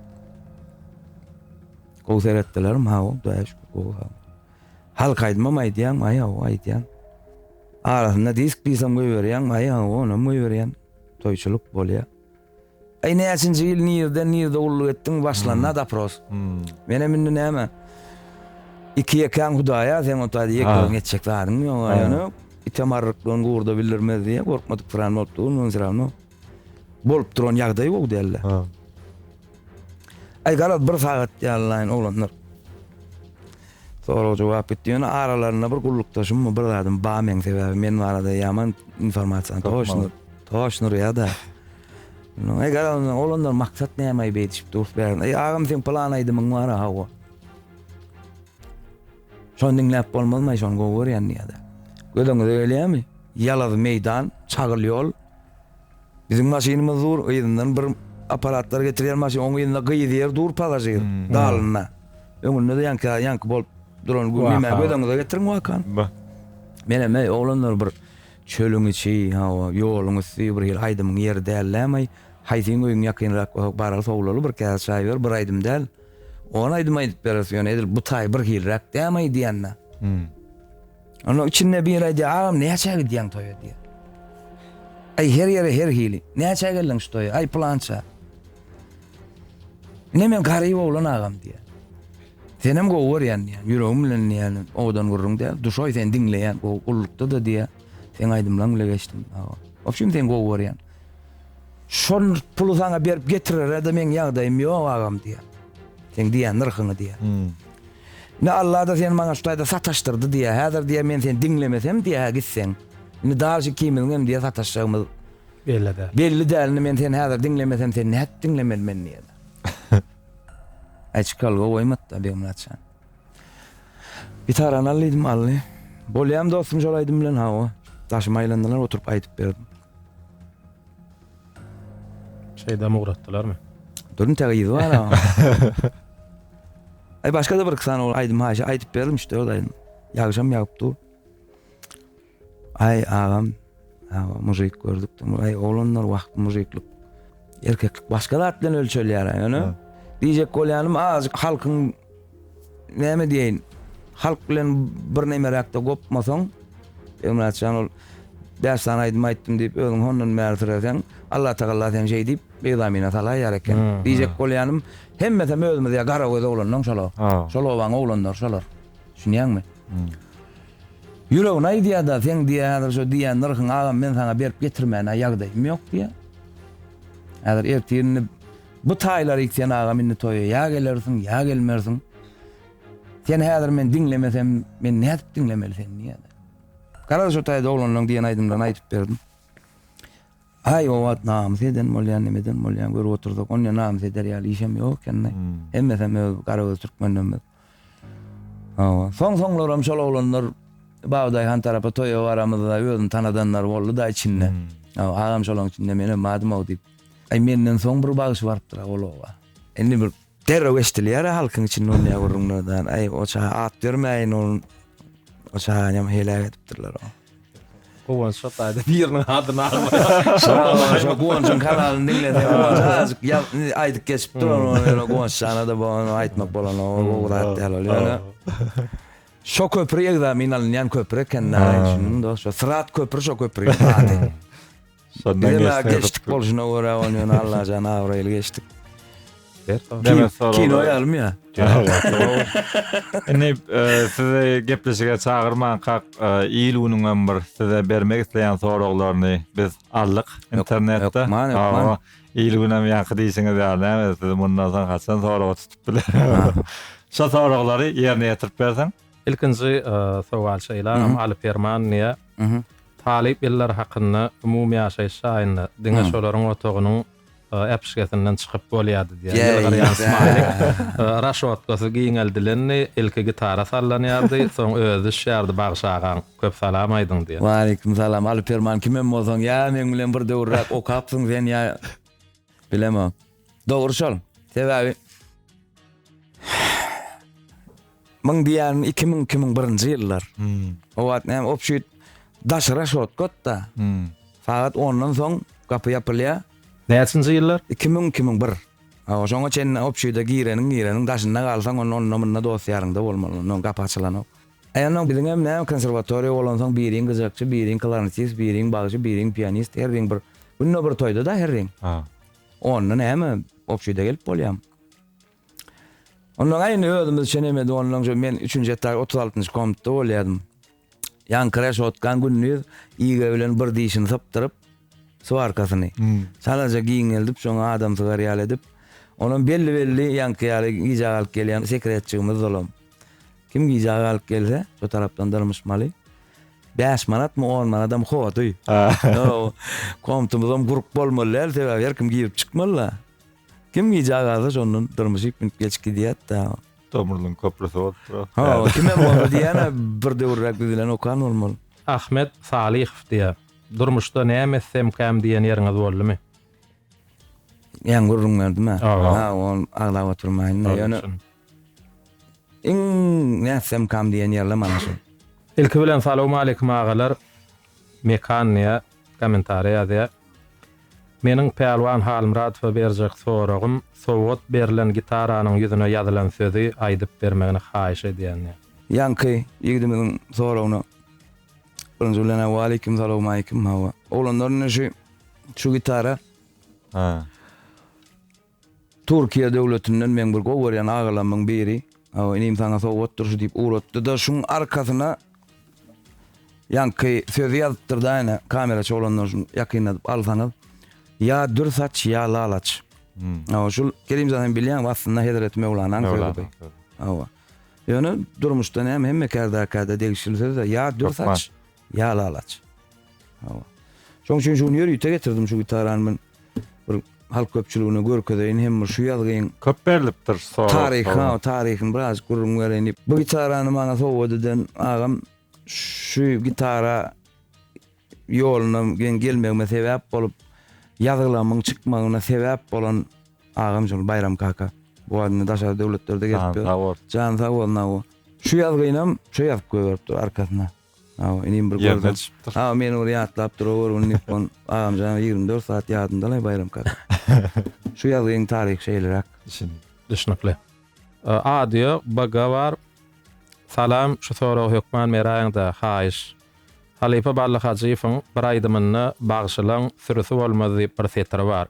gowy seretdilerim hawa daýaş gowy hawa Halk aýdymam aýdýaňmy? Aý, hawa, aýdýan. Arasynda disk-pisam goýberýäňmi? Aý, hawa, onam goýberýän. Toýçulyk bolýa. Aý, näçinji ýyl, nirden, nirde gulluk etdiň? Başlanda dopros. Menem indi näme? Iki ýekäň hudaýa, seň ota ýekeň etjek zadyň ýok-a ýöne. Item arryklygyn gurda bildirmez diýýä, gorkmadyk pyran bolup durmagyn, syramno. Bolup duran ýagdaý gowy däldi. Ha. Ay garaz bir sagat ýallaýyn oglanlar. Sorag jogap gitdi. Ýöne aralarynda bir gullukdaşym mı bir zadym ba men sebäbi men barada ýaman informasiýany toşnur. Toşnur ýa-da. Ay garaz oglanlar maksat näme aýyp edişip durup bärin. Ay agam sen plan aýdymyň bar ha. Şony diňläp bolmazmaý şony gowy görýän diýýädä. Gözüňize gelýämi? Ýalazy meýdan, çagyl ýol. Biziň maşynymyz dur, yzyndan bir apparatlar getirýän maşyn, oň yzynda gyz ýer dur pasažir, dalynda. Öňünde-de ýaňky ýaňky bolup duran gü nime gözüňize getiriň wakany. Menem eý oglanlar bir çölüň içi, hawa, ýoluň üsti bir hili aýdymyň ýeri dällämaý. Haýsyň öýüň ýakynrak, baraly sowlaly bir käse çaý ber, bir aýdym däl. Ony aýdym aýdyp beris ýöne edil bu taý bir hilräk dämaý diýende. Hmm. Onda içinde bir aýdýar, agam näçe gidýäň toýa diýýär. Aý her ýere her hili. Näçe geldiň şu toýa? Aý plança. Ne men garyp oglan agam diýýär. Senem gowy görýän diýýär. Ýüregim bilen diýýär. Owadan gürrüň diýýär. Duşaý sen diňleýän. Gowy gullukda da diýýär. Sen aýdymlaň bile geçdim. Agam. Obşim sen gowy görýän. Şol puly saňa berip getirere-de meň ýagdaýym ýok agam diýýär. Seň diýýän nyrhyňy diýýär. Indi Alla-da seni maňa şu taýda sataşdyrdy diýýär. Häzir diýýär men seni diňlemesem diýýär hä gitseň. Indi dagy şu ikimiziň hem diýýär sataşjagymyz Belli däl. Belli däl. Indi men seni häzir diňlemesem seni nädip diňlemeli men diýýär. Aý çykalga goýmady-da Begmyrat jan. Gitar anal diýdim aldy. Bolýam dostum şol aýdym bilen hawa. Daşyma aýlandylar oturyp aýdyp berdim. Şeýdam ugratdylarmy? Durun täge ýüzi bar ha. Ay başga da bir iki sany aýdym haýşy aýdyp berdim işte o aýdym. Ýagşam ýagyp dur. Aý agam agam mužik gördük aý oglanlar wah mužiklik erkeklik başga zat bilen ölçelýär aý ýöne diýjek bolýanym azajyk halkyň näme diýeýin halk bilen bir nemeräkde gopmasaň Ömratjan ol bäş sany aýdym aýtdym diýip özüň hondan bäri süreseň Allah tagalla sen şeý diýip beýzamyna salaýýar eken diýjek bolýanym hemmesem özümiz ýa gara göz oglanlaň şolar şol obaň oglanlary şolar düşünýäňmi Ýüregine aýdýar-da, seň diýýär, häzir şo diýýän nyrhyňy agam men saňa berip getirmäne ýagdaýym ýok diýýär. Häzir ertir indi bu taýlary ýit sen agam indi toýa ýa gelersiň, ýa gelmersiň. Seni häzir men diňlemesem, men nädip diňlemeli seni diýýär. Garaz şo taýda oglanlaryň diýen aýdymlaryny aýdyp berdim. Aý o wagt namys eden bolýan, neme eden bolýan görüp otursak, onda namys eder ýaly işem ýok ekeni. Hemmesem öz garagöz türkmenlerimiz. Hawa, soň-soňlaram şol oglanlar Babadaý han tarapa toýa baramyzda özüni tanadanlar boldy-da içinde. Hawa, agam şolaň içinde menem badym-ow diýip. Aý, menden soň bir bagşy barypdyr-a ol oba. Indi bir derrew eşidilýär-ä halkyň içinde ol näme gürrüňlerden. Aý, o çaga at bermäýin ol, o çaganyam heläk edipdirler-ow. Guwanç Şotaýda biriniň adyny aglaýar. Guwançyň kanalyny diňle. Azyk aýdyp geçip duran Guwanç janada bu aýtmak bolan o ugrat däl ol ýöne. Şo köpri egzamin alynýan köpri eken näme üçin dost? Şo Syrat köpri şo köpri. Şondan geçdik. Geçdik bolşuna görä ony ýöne Allajan abraýly geçdik. Kino ýalym ýa. Indi e, sizi gepleşige çagyrman kak e, il günüň hem bir size bermek isleýän soraglaryny biz aldyk internetde. Ýokman, Il gün hem ýaňky diýseňiz ýaly, siz mundan soň haçan sorag tutup biler. Şo soraglary ýerine ýetirip berseň. Ilkinji e, sowal şeýle, Aly Perman niýe Talyp ýyllary hakynda umumy ýaşaýyş jaýynda diňe şolaryň otagynyň äpişgesinden çykyp bolýardy diýýär. Ýylgyrýan smaýlik. Raşotkasy giňeldilendi, ilki gitara sallanýardy, soň özi düşýärdi Bagşy agaň, köp salam aýdyň diýen. Waleýkim salam. Alyperman kimem bolsaň, ýa meň bilen bir döwürräk okapsyň sen ýa bilemok. Dogry şol. Sebäbi Muň diýýän 2000 2001-nji ýyllar. Hmm. O wagt näme obşit daşara şot gotda. Hmm. Sagat 10-dan soň gapy ýapylýar. Näçinji ýyllar? 2000 2001. Awa şoňa çenli obşide gireniň gireniň daşynda galsaň onda onda munda dost ýaryňda bolmaly. Onda gapy açylanok. Aýanok biziň hem näme konserwatoriýa bolan soň biriň gyjakçy, biriň klarnetist, biriň bagşy, biriň pianist, her bir günde bir toýda da her bir. Ha. Onda näme, obşide gelip bolýamy? Onnoň-a indi özümiz çenemedi, onnoň şu men üçünji etaj otuz altynjy komitde bolýadym. Ýaňky reşotkan gündiz iýge bilen bir dişini sypdyryp, swarkasyny çalaja giňeldip, şoňa adam sygar ýaly edip, onam belli-belli ýaňky ýaly gijä galyp gelýän sekretçigimiz-olam. Kim gija galyp gelse, şu tarapdan dyrmyşmaly. 5 manat mı 10 manat hem howady. Komtumuz hem gurup bolmaly däl, sebäbi her kim girip çykmaly da. Kim gija galsa şondan dyrmyşyp münüp geçip gidýät da. Tomurlyň köprüsi bolupdyr. Ha, kim hem bolsa diýýän-ä bir döwürräk biz bilen okan bolmaly. Ahmet Salyhow diýýär. Durmuşda näme etsemkäm diýen ýeriňiz boldumy? Ýaňy gürrüň berdim-ä. Ha, ony aglap oturmaýyn-da. Ýöne Iň nätsemkam diýen ýerle mana şu. Ilki bilen salowmaleýkim agalar Mekan diýä kommentariýa ýazýa. Meniň Pälwan Halmyradowa berjek soragym sowgat berlen gitaranyň ýüzüne ýazylan sözi aýdyp bermegini haýyş edýän diýä. Ýaňky ýigdimiziň soragyna birinji bilenä waleýkim salowmaleýkim hawa oglanlar indi şu şu gitara. Türkiýe döwletinden meň bir gowy görýän agalamyň biri, Aw, inim saňa sowgatdyr şu diýip ugratdy-da, şuň arkasyna ýaňky sözi ýazypdyr-daýne, kameraçy oglanlar şuny ýakynladyp alsaňyz, Ýa dür saç, ýa lalaç. Aw, şul Kerimjan hem bilýäňmi, aslynda Hezreti Möwlanaň sözi. Hawa. Ýöne durmuşda näme hemme kärde-käde degişli söz-dä, ýa dür saç, Ýaly alaç. Hawa. Şoň üçin şuny ýörite getirdim şu gitarany men bir halk köpçüligine görkezeýin hem bir şu ýazgyň Köp berlipdir sorag. Taryhy, ha, taryhyny biraz gürrüň bereýin diýip. Bu gitarany maňa sowgat eden agam şu gitara ýoluna geň gelmegime sebäp bolup, ýazgylarymyň çykmagyna sebäp bolan agam şol Baýram kaka. Bu adam daşary döwletlerde gezip ýör. Jany sag bolsun. Jany sag bolsun, aw. Şu ýazgynam şo ýazyp goýberipdir arkasyna. Hawa, inim bir Ýerine görseň. düşüpdir. Hawa, meni bir ýatlap dur-ow bir gün diýip, on agamjanyň ýigrimi dört sagat ýadynda-laý Baýram kaka. Şu ýazgyň taryhy şeýleräk. Düşündim. Düşnükli. Audio bgy bar. Salam, şu soragy hökman beräýiň-dä, haýyş. Halypa Ballyhajyýewiň bir aýdymynda Bagşylaň sürüsi bolmaz diýip bir setiri bar.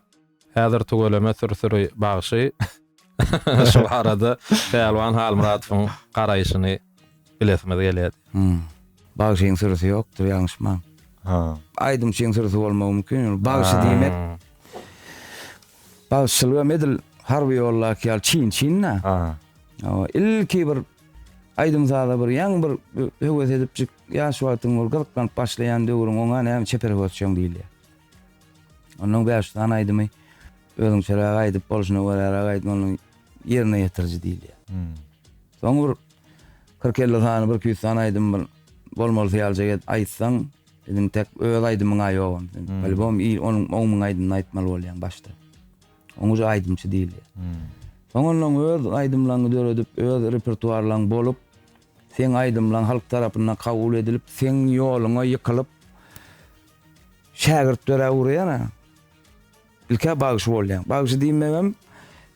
Häzir tüweleme sürsüri bagşy şu barada Pälwan Halmyradowyň garaýşyny bilesimiz gelýärdi. Hum. Bagşyň sürüsi ýokdur ýalňyşmaň. Ha. Aýdymçyň sürüsi bolmagy mümkin ýöne bagşy diýmek bagşyçylyk hem edil harby ýoldaky ýaly çyn çyn-da. Ha. Hawa, ilki bir aýdym saza bir ýaňy bir höwes edipjik ýaş wagtyň bir gyzyklanyp başlaýan döwrüň oňa näme çeper höwesjeň diýilýär. Ondan bäş sany aýdymy özüňçeräk aýdyp bolşuna göräräk aýdym onuň ýerine ýetiriji diýilýär. Hmm. Soň bir 40-50 sany, bir 200 sany aýdym bir bolmaly syýaljak et aýtsaň, biziň tek öz aýdymyň aý ýok ondan. Hmm. Albom il onuň on müň aýdymyny aýtmaly bolýaň başda. Oň uja aýdymçy diýilýär. Hmm. Soň ondan öz aýdymlaryňy döredip, öz repertuarlaryň bolup, seň aýdymlaryň halk tarapyndan kabul edilip, seň ýoluňa ýykylyp, Şägirtlere urýan-a. Ilk-ä bagşy bolýaň. Bagşy diýmegem,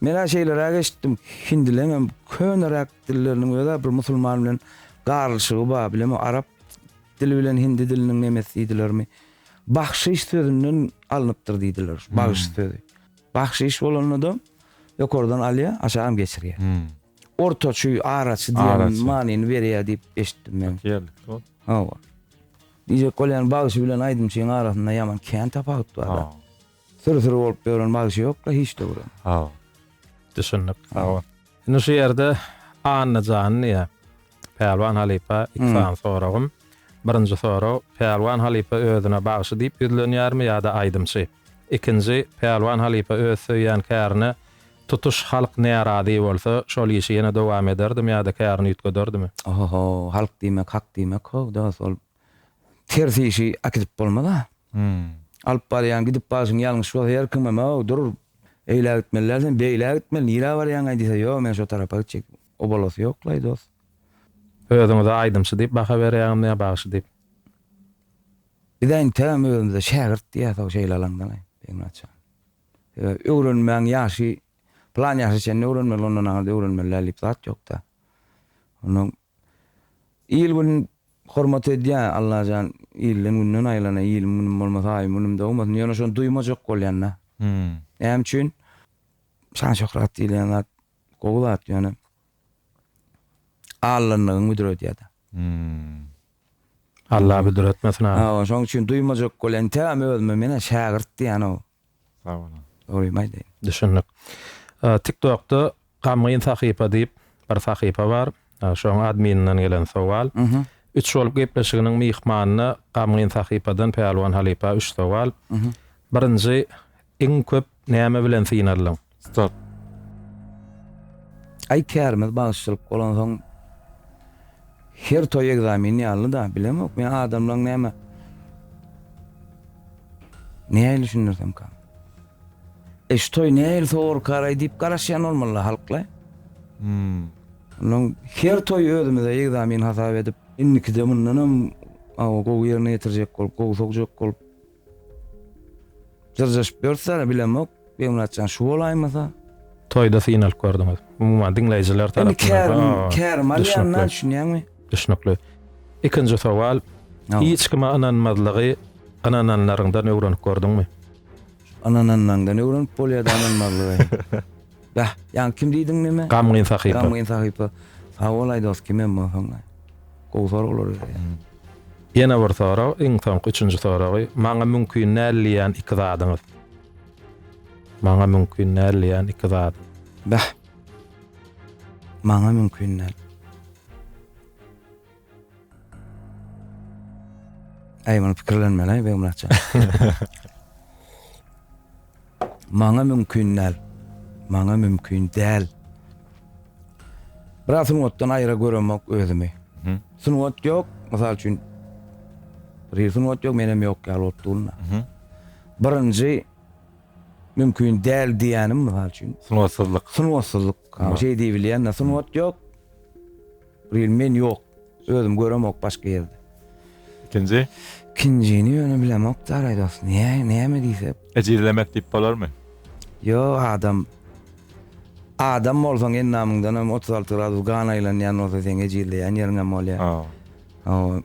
men-ä şeýleräk eşitdim, hindileňem köneräk dilleriniň öz-ä bir musulman bilen garlyşygy bar, bilemok, arap dili bilen hindi diliniň nemes diýdilermi, bahşyş sözünden alnypdyr diýdiler, bagşy sözi. Bahşyş bolanda-da ýokardan alýar, aşagam geçirýär. Ortaçy, araçy diýen manyny berýär diýip eşitdim men. Hawa. Diýjek bolýan bagşy bilen aýdymçyň arasynda ýaman kän tapawut barda. Syr syr bolup ýören bagşy ýokda hiç döwürem. Hawa. Düşündik. Sag bol. Indi şu ýerde Annajan diýä. Pälwan halypa iki sany soragym. Birinji sorag, Pälwan halypa özüne bagşy diýip ýüzlenýärmi ýa-da aýdymçy? Ikinji, Pälwan halypa öz söýýän kärine Tutuş halk närazy bolsa, şol işi ýene dowam ederdimi ýa-da kärini üýtgederdimi? Oho-ho, halk diýmek hak diýmek-how dost, ol ters işi äkidip bolmaz-a. Alyp barýan, gidip barşyň ýalňyş bolsa, her kimem-ow, dur, eýlä gitmeli-däl sen, beýlä gitmeli, nirä barýaňaý diýse, ýok, men şo tarapa gitjek, obalasy ýoklaý dost. Özüňize aýdymçy diýip baha berýäňizmi ýa bagşy diýip? Biz entegem özümize şägirt diýýäs-ow şeýle alaňdalaý, Begmyrat jan. Öwrenmäň ýaşy plan ýaşa çenli öwrenmeli ondan aňyrda öwrenmelidäl diýip zat ýokda. Onda il gün hormat edýä Allajan ilden günden aýylana ilim günüm bolmasa aýym günüm dogmasyn ýöne şony duýmajak bolýanda. Näme üçin şan şöhrat diýilýän zat gowy zat ýöne allanlygyň müdür edýäda. Allah büdür etmesin aga. Sag boluň şoň üçin duýmajak bol entegam özüme menä şägirt diýýänow. Sag boluň. Dogrymy aýdaýyn. Düşündik. Tiktokda Gamgyn sahypa diýip bir sahypa bar. Şoň admininden gelen sowal. Üç bolup gepleşiginiň myhmanyna Gamgyn sahypadan Pälwan halypa üç sowal. Birinji iň köp Näme bilen synaldyň? Start. Aý kärimiz bagşylyk bolansoň her toý ekzamen ýalyda, bilemok men adamlaň näme näýli düşündirsemka. E şu toý näýli sowurkaraý diýip garaşýan bolmalyla halkla. Hum. Onuň her toý özümize ekzamen hasap edip, indikide mundanam gowy ýerine ýetirjek bolup, gowy sogjak bolup. Jyrjaşyp ýörüsler-ä bilemok, Begmyratjan şu bolaýmasa. Toýda syn alyp gördüňiz. Umuman diňleýjiler tarapyndan ha. Indi kärim alýan-a düşünýäňmi? Düşnükli. Ikinji sowal, hiç kime ynanmazlygy ynananlaryňdan öwrenip gördüňmi? Ynananlaňdan öwrenip bolýa-da ynanmazlygy. Bäh, ýaňy kim diýdiň näme? Gamgyn sahypa. Gamgyn sahypa. Sag bol aýdos, kimem bolsaň. Gowy soraglar berýär. Ýene bir sorag, iň soňky üçünji soragy. Maňa mümkin däl diýýän iki zadyňyz. Maňa mümkin däl diýýän iki zat. Bäh. Maňa mümkin däl. Äý muny pikirlenmeli Begmyratjan. Maňa mümkin däl. Maňa mümkin däl. Biraz sungatdan aýra göremok özümi. Sungat ýok, mysal üçin bir sungat ýok, menem ýok ýaly bolup durna. Birinji mümkin däl diýýänim mysal üçin. Sungatsyzlyk. Sungatsyzlyk. Şeý diýip bilýän-de sungat ýok. Real men ýok. Özüm göremok başga ýerde. Ikinji? Ikinjini ýöne bilemok Daraý dost. Näme näme diýse. Ejizlemek diýip bolarmy? Ýok adam. Adam bolsaň endamyňdan hem otuz alty gradus gan aýlanýan bolsa seň ejizleýän ýeriň hem bolýar. Hawa. Hawa.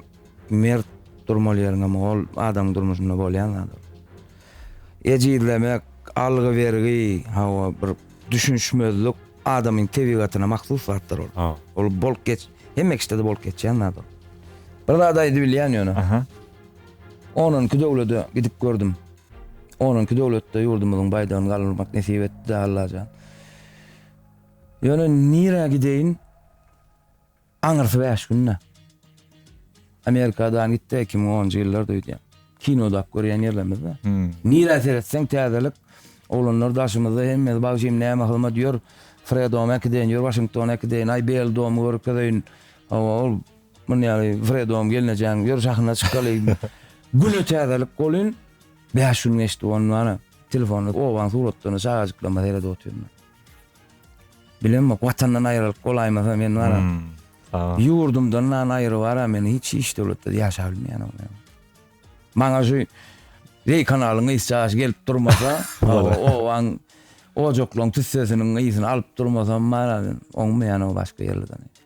Mert durmaly ýeriň hem ol adamyň durmuşynda bolýan zat ol. Ejizlemek, algy-bergi, hawa bir düşünişmezlik. Adamyň tebigatyna mahsus zatdyr ol. Ha. Ol bolup geç, hemme kişide-de bolup geçýän zat ol. Bir zat aýdy bilýän ýöne. Aha. Onunki döwlede gidip gördüm. Onunki döwletde ýurdumyzyň baýdagyny galdyrmak nesip etdi-de Allajan. Ýöne nirä gideýin? Aňyrsy bäş günde Amerikadan gitdi iki müň onunjy ýyllarda öýdýän. Kino dap görýän ýerlerimizde. Nirä seretseň täzelik. Oglanlar daşymyzda hemmesi bagşym näme hyzmat ýör. Fredoma äkideýin ýör Waşingtona äkideýin. Aý Bel domy görkezeýin. Hawa ol muny ýaly Fredom gelnejäň ýör sahna çykaly. Güne täzelik bolýyn. Bäş gün geçdi ondan. Telefonda obaň suratlaryna çagajyklaryma seredip otyryn. Bilemok watandan aýralyp bolaýmasa men wara. Ýurdumdan nan aýry wara men hiç hiç döwletde ýaşap bilmeýän men. Maňa şu Reý kanalyň ysjaş gelip durmasa, owaň ojaklaň tüssesiniň ysyny alyp durmasam wara men oňmaýan o başga ýerlerden.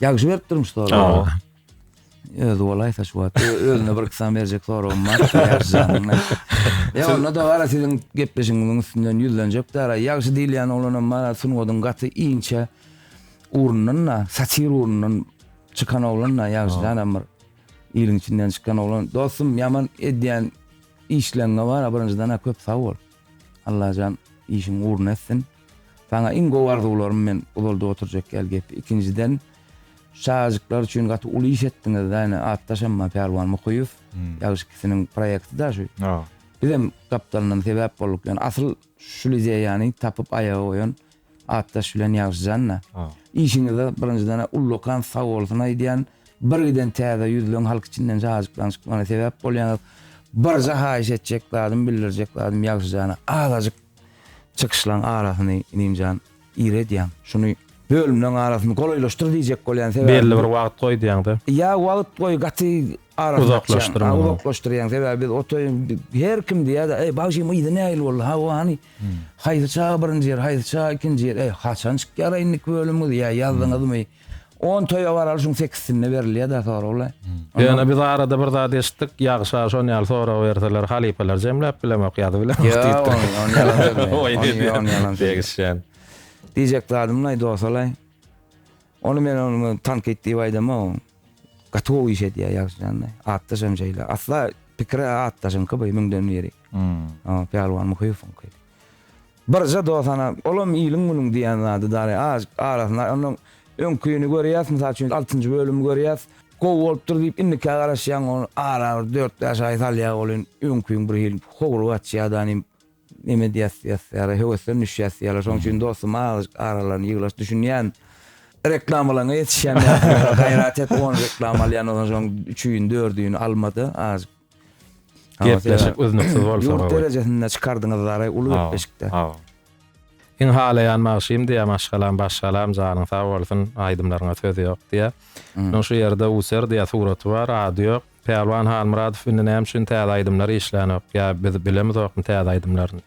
Ýagşy berip durmuş sorag. Öz bolaýsa şu wagt özüne bir kysam berjek soragym bar. Ýa onda da gara siziň gepleşigiňiziň üstünden ýüzlenjek dara. Ýagşy diýilýän oglanam bar, sungatyň gaty inçe ugrundan da, satir ugrundan çykan oglan da ýagşy janam bir iliň içinden çykan oglan. Dostum, ýaman edýän işleňňe bar, birinjiden köp sag bol. Allajan işiň ugruna etsin. Saňa iň gowy arzuwlarym men uzaldyp oturjak ýaly gepi. Ikinjiden şu çagajyklar üçin gaty uly iş etdiňiz da ine atdaşam bar Pälwan Mukyýew. Ýagyş ikisiniň proýekti da şu. Bizem gapdalyndan sebäp bolduk. Ýöne asyl şul ideýany tapyp aýaga goýan Atdaş bilen ýagşyjan-da. Işiňizde birinjiden ullakan sag bolsun aýdýan. Birgiden täze ýüzleň halk içinden şajyklaň çykmagyna sebäp bolýaňyz. Birje haýyş etjek zadym, bildirjek zadym ýagşyjana azajyk çykyşlaň arasyny inimjan ir edýäň. Şuny bölümleň arasyny golaýlaşdyr diýjek bolýan sebäbim. Belli bir wagt goý diýäňda. Ýa wagt goý gaty Uzaklaşdyrmaly. Uzaklaşdyrýaň, sebäbi biz o toýuň her kim diýýär-de, eý, bagşym yzy nähili boldy, ha, o hany? Haýsy çaga birinji ýer, haýsy çaga ikinji ýer, eý, haçan çykýar eýniki bölümiňiz, ýa ýazdyňyzmy? On toýa baraly şuň sekizsinde berilýär-dä soragla. Ýöne biz arada bir zat eşitdik, ýagşa şon ýaly sorag berseler, halypalar jemläp bilemok, ýazy bilemok diýipdir. Ýa, ony ýalan sözlär. Ony ýalan sözlär. Degişýän. Diýjek zadym-laý, dost-laý. Ony men ony tankyt diýip aýdamok. Gatowy iş edýär ýagşyjanda. Atdaşam şeýle. Asla pikir atdaşyňky bu müňden biri. Hmm. O, Pälwan Muhyýewiňki. Birje dosana, olam iliň günüň diýen zady dary az arasyna onuň öňkini görýäs, mysal üçin altynjy bölümi görýäs. Gowy bolupdyr diýip indikä garaşýaň, ony ara bir dört-bäş aý salýar welin öňküň bir hili howry gaçýar da, Neme diýäs diýäs ýaly höwesden düşýäs ýaly şoň üçin dostum azajyk aralan ýyglaş düşünýän reklamalaňa ýetişýän ýaly gaýrat et on reklama alýan ondan soň üçin dördüni almada azajyk Gepleşik üznüksiz bolsa gowy. Ýurt derejesinde çykardyňyz Zara uly gepleşikde. Hawa. Iň halaýan magşym diýä maşgalam başgalam janyň sag bolsun aýdymlaryňa söz ýok diýä. Munuň şu ýerde user diýä suraty bar ady ýok. Pälwan Halmyradow indi näme üçin täze aýdymlar işlänok ýa biz bilemizokmy täze aýdymlaryny.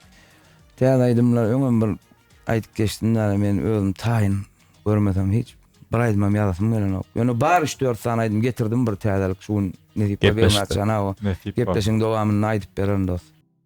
Täze aýdymlar öňem bir aýdyp geçdim däli men özüm taýyn görmesem hiç bir aýdymam ýazasym gelenok ýöne bar üç dört sany aýdym getirdim bir täzelik şu gün nesip bolsa begiň açygyna o gepleşigiň dowamynda aýdyp bererin dos.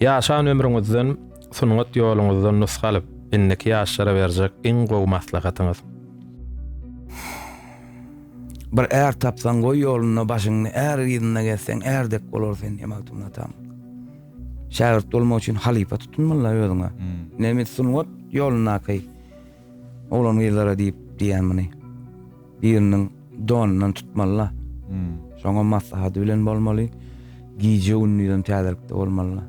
Ýaşan ömrüňizden, sungat ýoluňyzdan nusga alyp, indiki ýaşlara berjek iň gowy maslahatyňyz? Bir är tapsaň goý ýolunda başyňny är yzynda gezseň är dek bolar sen diýen Magtymguly atamyň. Şägirt bolmak üçin halypa tutunmaly özüňe. Nemes sungat ýolundaky Oglan-gyzlara diýip diýýän muny. Biriniň donundan tutmaly-la. Şoňam maslahady bilen bolmaly. Gije-gündizem täzelikde bolmaly-la.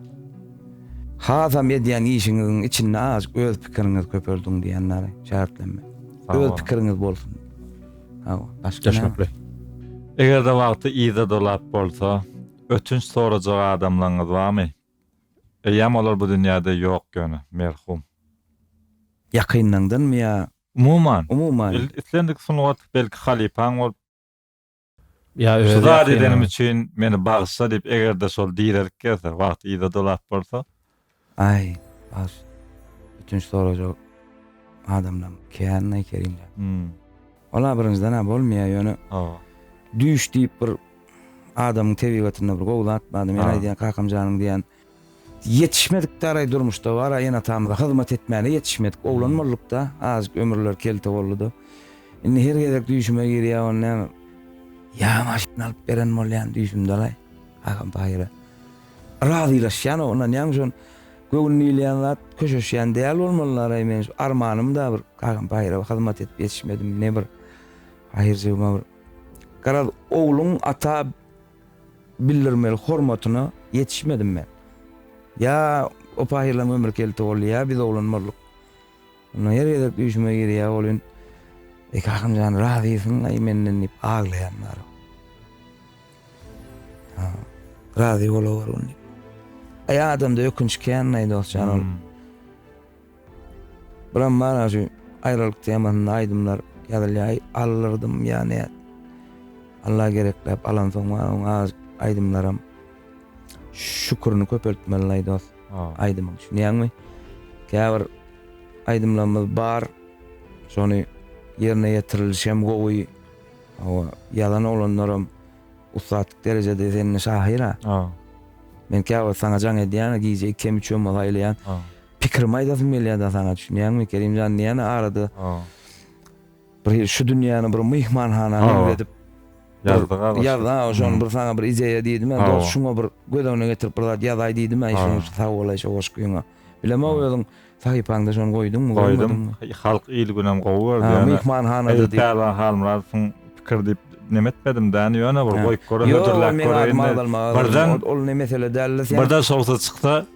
Hasam edýän işiňiziň içinde azajyk öz pikiriňizi köpeldiň diýýän däli, şägirtlenme. Öz pikiriňiz bolsun. Hawa, başga näme? Düşnükli. Eger-de wagty yza dolap bolsa, ötünç sorajak adamlaryňyz barmy? Eýýäm olar bu dünýäde ýok ýöne, merhum. Ýakynlaňdanmy ýa Umuman, umuman? islendik sungat belki halypaň bolup, Ýa öz Şu zady edenim ýakynlaň. üçin meni bagyşla diýip eger-de şol direlik gelse, wagty yza dolap bolsa. Aý, bagyş. Ötünç sorajak adamlaň kän-aý Kerimjan. Hum. Ol abrynjdan-a bolmaýar, ýöne düýş diýip bir adamyň tebigatynda bir gowy zat bar-da, men aýdýan kakam janyň diýýän, ýetişmedik-dä araý durmuşda, bar-a ene-atamyza hyzmat etmäne ýetişmedik, oglan bolduk-da, azajyk ömürler kelte boldy-da, indi her gezek düýşüme girýär, ony näme, ýa maşyn alyp beren bolýan düýşümde-alaý, kakam paýyra, razylaşýan-ow, ynanýaňmy şon. Göwün diýilýän zat köşeşýän däl bolmaly Naraý men şu armanymda bir kagam paýyra hyzmat edip ýetişmedim ne bir paýyrjygyma bir garaz ogluň ata bildirmeli hormatyna ýetişmedim men ýa o paýyrlaň ömri kelte boldy ýa biz oglanmazlyk Onda her gezek düýşüme girýär welin, Eke Ahunjan razysyň-laý menden diýip aglaýan bar. Ha, razy bolawergin diýip. Aý adamda ökünç kän-laý dostjan ol. Buram bar-a şu aýralyk temasynda aýdymlar ýazylýar, aldyrdymy ýa nädip. Alla gerekläp alansoň bar oň az aýdymlaram. Şükürini köpeltmeli laý dost. Aýdymy düşünýäňmi? Käbir aýdymlarymyz bar. Şony ýerine ýetirilişem gowy. Hawa, ýazan oglanlaram ussatlyk derejede sende şahyr-a. Men käwagt saňa jaň edýän-ä, gije ikem, üçem bolsa aýlaýan. Pikirimi aýdasym gelýär-de saňa, düşünýäňmi? Kerim jan diýýän-ä arada. Bir şu dünýäni bir myhmanhana meňzedip ýazdyň-a başda. Ýazdy-a, şony bir saňa bir ideýa diýdim-ä, dos şuňa bir göz öňüne getirip bir zat ýazaý diýdim-ä, şonuň üçin sag bolaý şu goşgyňa. Bilemok özüň sahypaňda şony goýduňmy, goýmadyňmy? Goýdum. Halk il günem gowy berdi. Ýöne myhmanhanada diýip. Pälwan Halmyradowyň pikiri diýip neme etmedim däni, ýöne bir goýup görä hödürläp göräýin. Ýok, ol meň adymy agzalmaga agzalmaz. Ol ne mesele däldir. Birden şowsuz çyksa.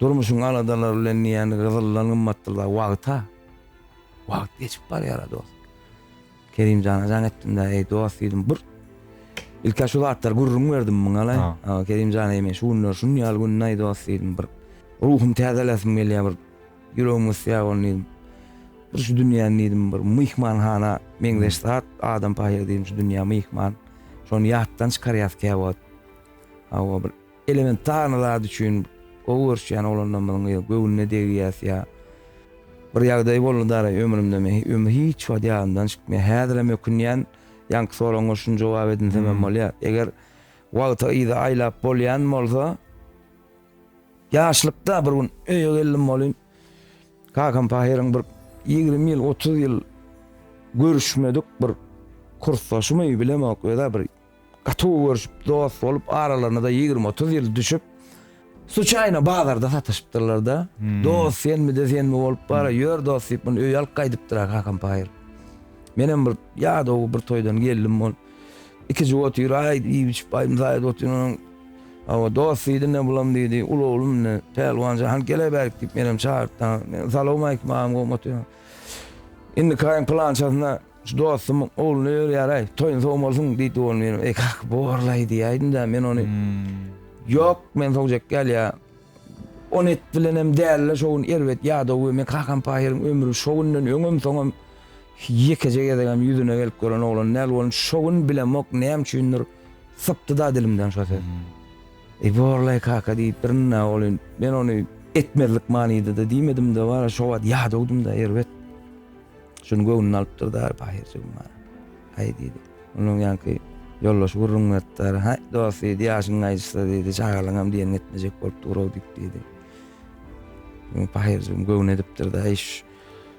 Durmuşyň aladalary bilen diýýän gyzyldan gymmatdyr-la wagt-a. Wagt geçip barýar-a dost. Kerimjana jaň etdim-de, Eý, dost, diýdim, bir ilki-ä şu zatlary gürrüň berdim muňa-laý. Kerimjan, eý, men şu günler şuny ýaly günde-aý, dost, diýdim, bir ruhumy täzelesim gelýär, bir ýüregim gysýar ony, diýdim. Bir şu dünýäni, diýdim, bir myhmanhana meňzeş zat, adam pahyr, diýdim, şu dünýä myhman. Şony ýatdan çykarýas käwagt. Hawa, bir. Elementarny zat üçin gowy görüşýän oglanlarymyzyň ýa göwnüne degýäs ýa bir ýagdaý boldy dara ömrümde men ömrüm hiç wagt ýadymdan çykmaýar. Häzirem ökünýän ýaňky soragyňa şuny jogap edinsemem bolýar. Eger wagty yza aýlap bolýan bolsa ýaşlykda bir gün öýe geldim welin kakam pahyryň bir ýigrimi ýyl otuz ýyl görüşmedik bir kursdaşymy bilemok özä bir Gaty gowy görüşip, dost bolup, aralaryna-da ýigrimi-otuz ýyl düşüp, suçaýno bazarda sataşypdyrlar-da. Dost senmi-de senmi bolup bar-a, ýör dost diýip, muny öýe alyp gaýdypdyr-a Hakan paýyr. Menem bir ýadaw bir toýdan geldim, ol iki jüp otyr, aý iýip-içip, aý mysaýada otyr, onuň, Hawa, dost diýdi-ne bulam diýdi, uly oglum indi, Pälwan jan, hany gel-ä bärik diýip, menem çagyrypdyryn. Salowmaýkim agam, gowumy otyrsyň? Indiki aýyň pylançasyna Şu dostumyň ogluny öýerýär-aý, toýuň soň bolsun, diýdi ogly meniň. Eý, kaka, bor-laý diýäýdim-dä, men ony. Ýok, men sogjak däl ýa. On et bilenem däl-le, şo gün erbet ýadaw we men kakam Pahyryň ömri şo günden öňem, soňam ýekeje gezegem ýüzüne gelip gören oglan däl welin, şo gün bilemok, näme üçindir, sypdy-da dilimden şo söz. Eý, bor-laý, kaka, diýip birine ogly. Men ony etmezlik manyda-da diýmedim-de, bara şo wagt ýadawdym-da, erbet. Şuny göwnüne alypdyr-da Bahyr jigim-ha. Haý, diýdi. Onuň ýaňky ýoldaşy gürrüň beripdir. Haý, dost, diýdi, ýaşyň gaýyşsa, diýdi, çagalaňam diýeniňi etmejek bolup dur-ow diýip, diýdi. Muny Bahyr jigim göwün edipdir-de, Haý,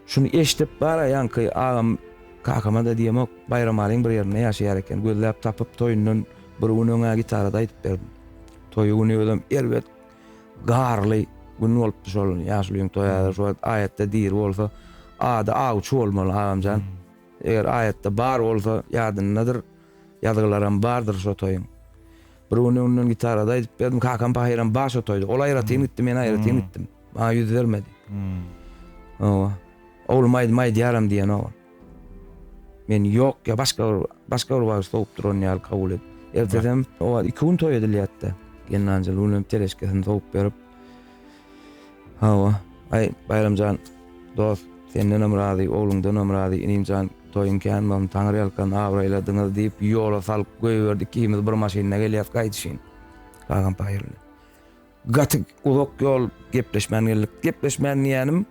şuny eşidip bar-a, ýaňky agam kakama-da diýemok, Baýramalyň bir ýerinde ýaşaýar eken, gözläp tapyp, toýundan bir gün öň-ä gitarada aýdyp berdim. Toýy güni özem erbet Garly gün bolupdy şol gün, ýaşulyň toýy häzir şu wagt aýatda diri bolsa, ady Awçy bolmaly agamjan. Eger aýatda bar bolsa, ýadyndadyr, ýazgylaram bardyr şo toýuň. Bir gün öňünden gitarada aýdyp berdim, kakam pahyram bar şo toýda. Ol aýratyn gitdi, men aýratyn gitdim. Maňa ýüz bermedi. Hawa. Oglum aýdym aýdýaram diýenok ol. Men ýok ýa başga bir başga bir wagt sowup duran ýaly kabul edip. Ertesem, o wagt iki gün toý edilýärdi. Gelnanjyl unuň teleşkesini sowup berip. Hawa, aý, Baýramjan, dost, sendenem razy, ogluňdanam razy, inimjan, toýuň kän bolsun, taňyrýalkan abraýladyňyz, diýip, ýola salyp goýberdi. Ikimiz bir maşynda gelýäs gaýdyşyn. Kakampaýylly. Gaty uzak ýol gepleşmän geldik. Gepleşmän diýýänim,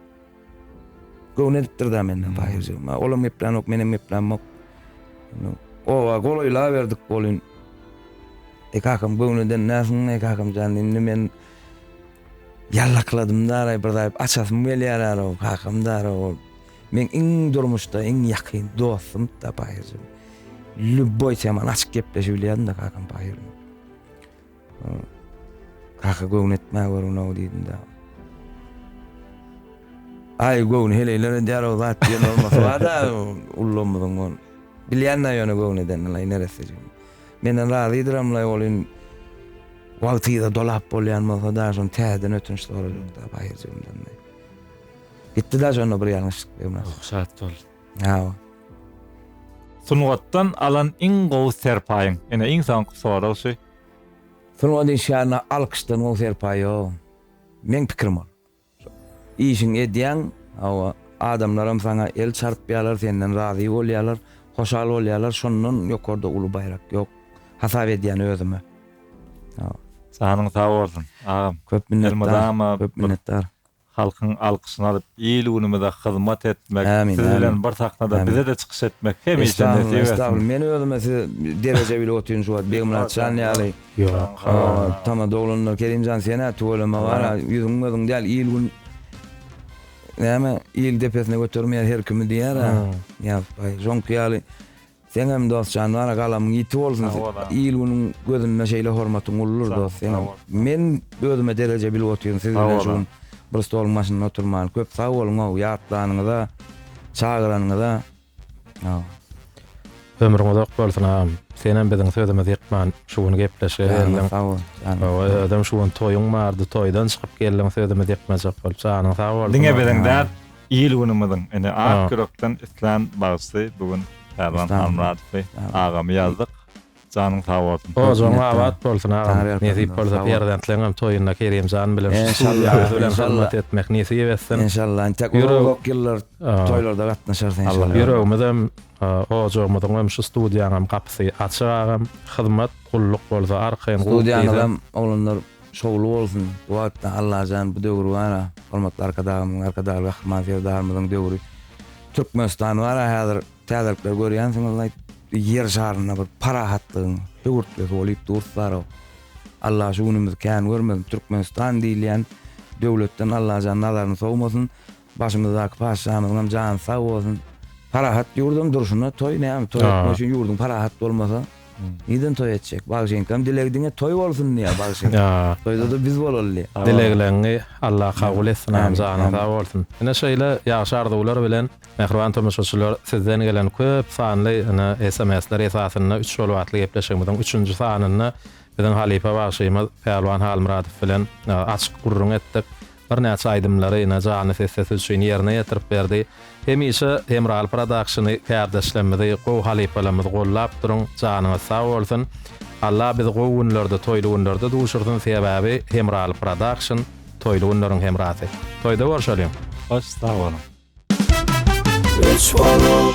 göwün edipdir da menden Taýyr jigim. Olam geplänok, menem geplänmok. Oba golaýlaberdik bolin. E kakam göwün eden näsin, e kakam jan, indi men ýallakladym da, bir zaýyp açasym gelýär ara, kakam da ara ol. Men iň durmuşda iň ýakyn dostum da Taýyr jigim. Lübboý teman açyk gepleşip bilýärin da kakam Taýyr. Kaka göwün etmä görünow diýdim da. Aý göwün heleýler edýär o zat diýen bolmasy bar-da ullumyzyň ol. Bilýän-de ýöne göwün edenini laý neresse jigim. Menden razydyram laý ol in wagtyza dolap bolýan bolsa da şony täzeden ötünç sorajak da baýyrjygymdan. Gitdi da şonda bir ýalňyşlyk. Şat bol. Hawa. Sungatdan alan iň gowy serpaýyň? Ine iň soňky sorag şu. Sungat işgärine alkyşdan gowy serpaý ýok. Meň pikirim ol. Işiňi edýäň, hawa, adamlaram saňa el çarpýarlar, senden razy bolýarlar, hoşal bolýarlar, şondan ýokarda uly baýrak ýok. Hasap edýän özüme. Hawa. Janyň sag bolsun, agam. Köp minnetdar. Elmydama. Köp minnetdar. Halkyň alkyşyny alyp il-günümize hyzmat etmek, Ämin, siz ämin. bilen bir sahnada Ämin. bize-de çykyş etmek hemişe Estagfurullah, nesip etsin. estagfurullah. Men özüme siz dereje bilip otyryn şu wagt Begmyrat jan ýaly. Ýok. O, tama doglandyr. Kerim jan sen-ä tüweleme gara, ýüzüň gözüň däl il-gün näme il depesine götermeýär her kimi diýer-ä. Ýa, baý, şoňky ýaly Seňem dost jan bana galamyň ýiti bolsun il günüň gözünde şeýle hormatyň uludyr dost seňem men özüme dereje bilip otyryn siz bilen şu gün bir stoluň başynda oturman köp sag boluňow ýatlanyňyza çagyranyňyza sow. Ömrüň uzak bolsun agam senem biziň sözümizi ýykman şu gün gepleşige geldiň hawa özem şu gün toýuň bardy toýdan çykyp geldiň sözümizi ýykmajak bolup janyň sag bolsun diňe biziň däl Il-günümiziň, ine, ak ýürekden islän bagşysy bu gün Pälwan Halmyradowy, agamy ýazdyk. Janyň sag bolsun. Ojagyň abat bolsun, agam. Nesip bolsa, perzentleňem toýunda Kerimjan bilen şu studiýaňyz bilen hyzmat etmek nesip etsin. Enşalla, entek uzak-uzak ýyllar toýlarda gatnaşarys enşalla. Ýüregimizem, ojagymyzyňam, şu studiýaňam gapysy açyk, agam. Hyzmat, gulluk bolsa arkaýyn guwup diýseň. Studiýaňyzam, oglanlar. Şowly bolsun. Bu atda Allajan bu döwür bara hormatly Arkadagymyzyň Arkadagly Gahryman Serdarymyzyň döwri Türkmenistan bara häzir täzelikler görýänsiňiz aýt ýer şarynda bir parahatlygyň höwürtlisi bolyp dur bara Allah şu günümizi kän görmesin Türkmenistan diýilýän döwletden Allajan nazaryny sowmasyn Başymyzdaky patyşamyzyňam jany sag bolsun. Parahat ýurdam durşuna toý näme toý etmek üçin ýurduň parahat bolmasa nirden toý etjek. Bagşynyňkam dilegi diňe toý bolsun diýýär bagşy. Toýda-da biz bolaly. Dilegleriňi Alla kabul etsin agam janyň sag bolsun. Ine şeýle ýagşy arzuwlar bilen mähriban tomaşaçylar sizden gelen köp sanly ine sms-ler esasynda üç ýol batly gepleşigimiziň üçünji sanynda biziň halypa bagşymyz Pälwan Halmyradow bilen açyk gürrüň etdik. Birnäçe aýdymlary ine janly sessesi üçin ýerine ýetirip berdi. Hemişe Hemraly Prodakşyny kärdeşlemmizi gowy halypalamyzy gollap duruň janyňyz sag bolsun. Allah bizi gowy günlerde toýly günlerde duşursyn sebäbi Hemraly Prodakşyn toýly günleriň hemrasy. Toýda görşeliň. Baş sag boluň. Üç bolup.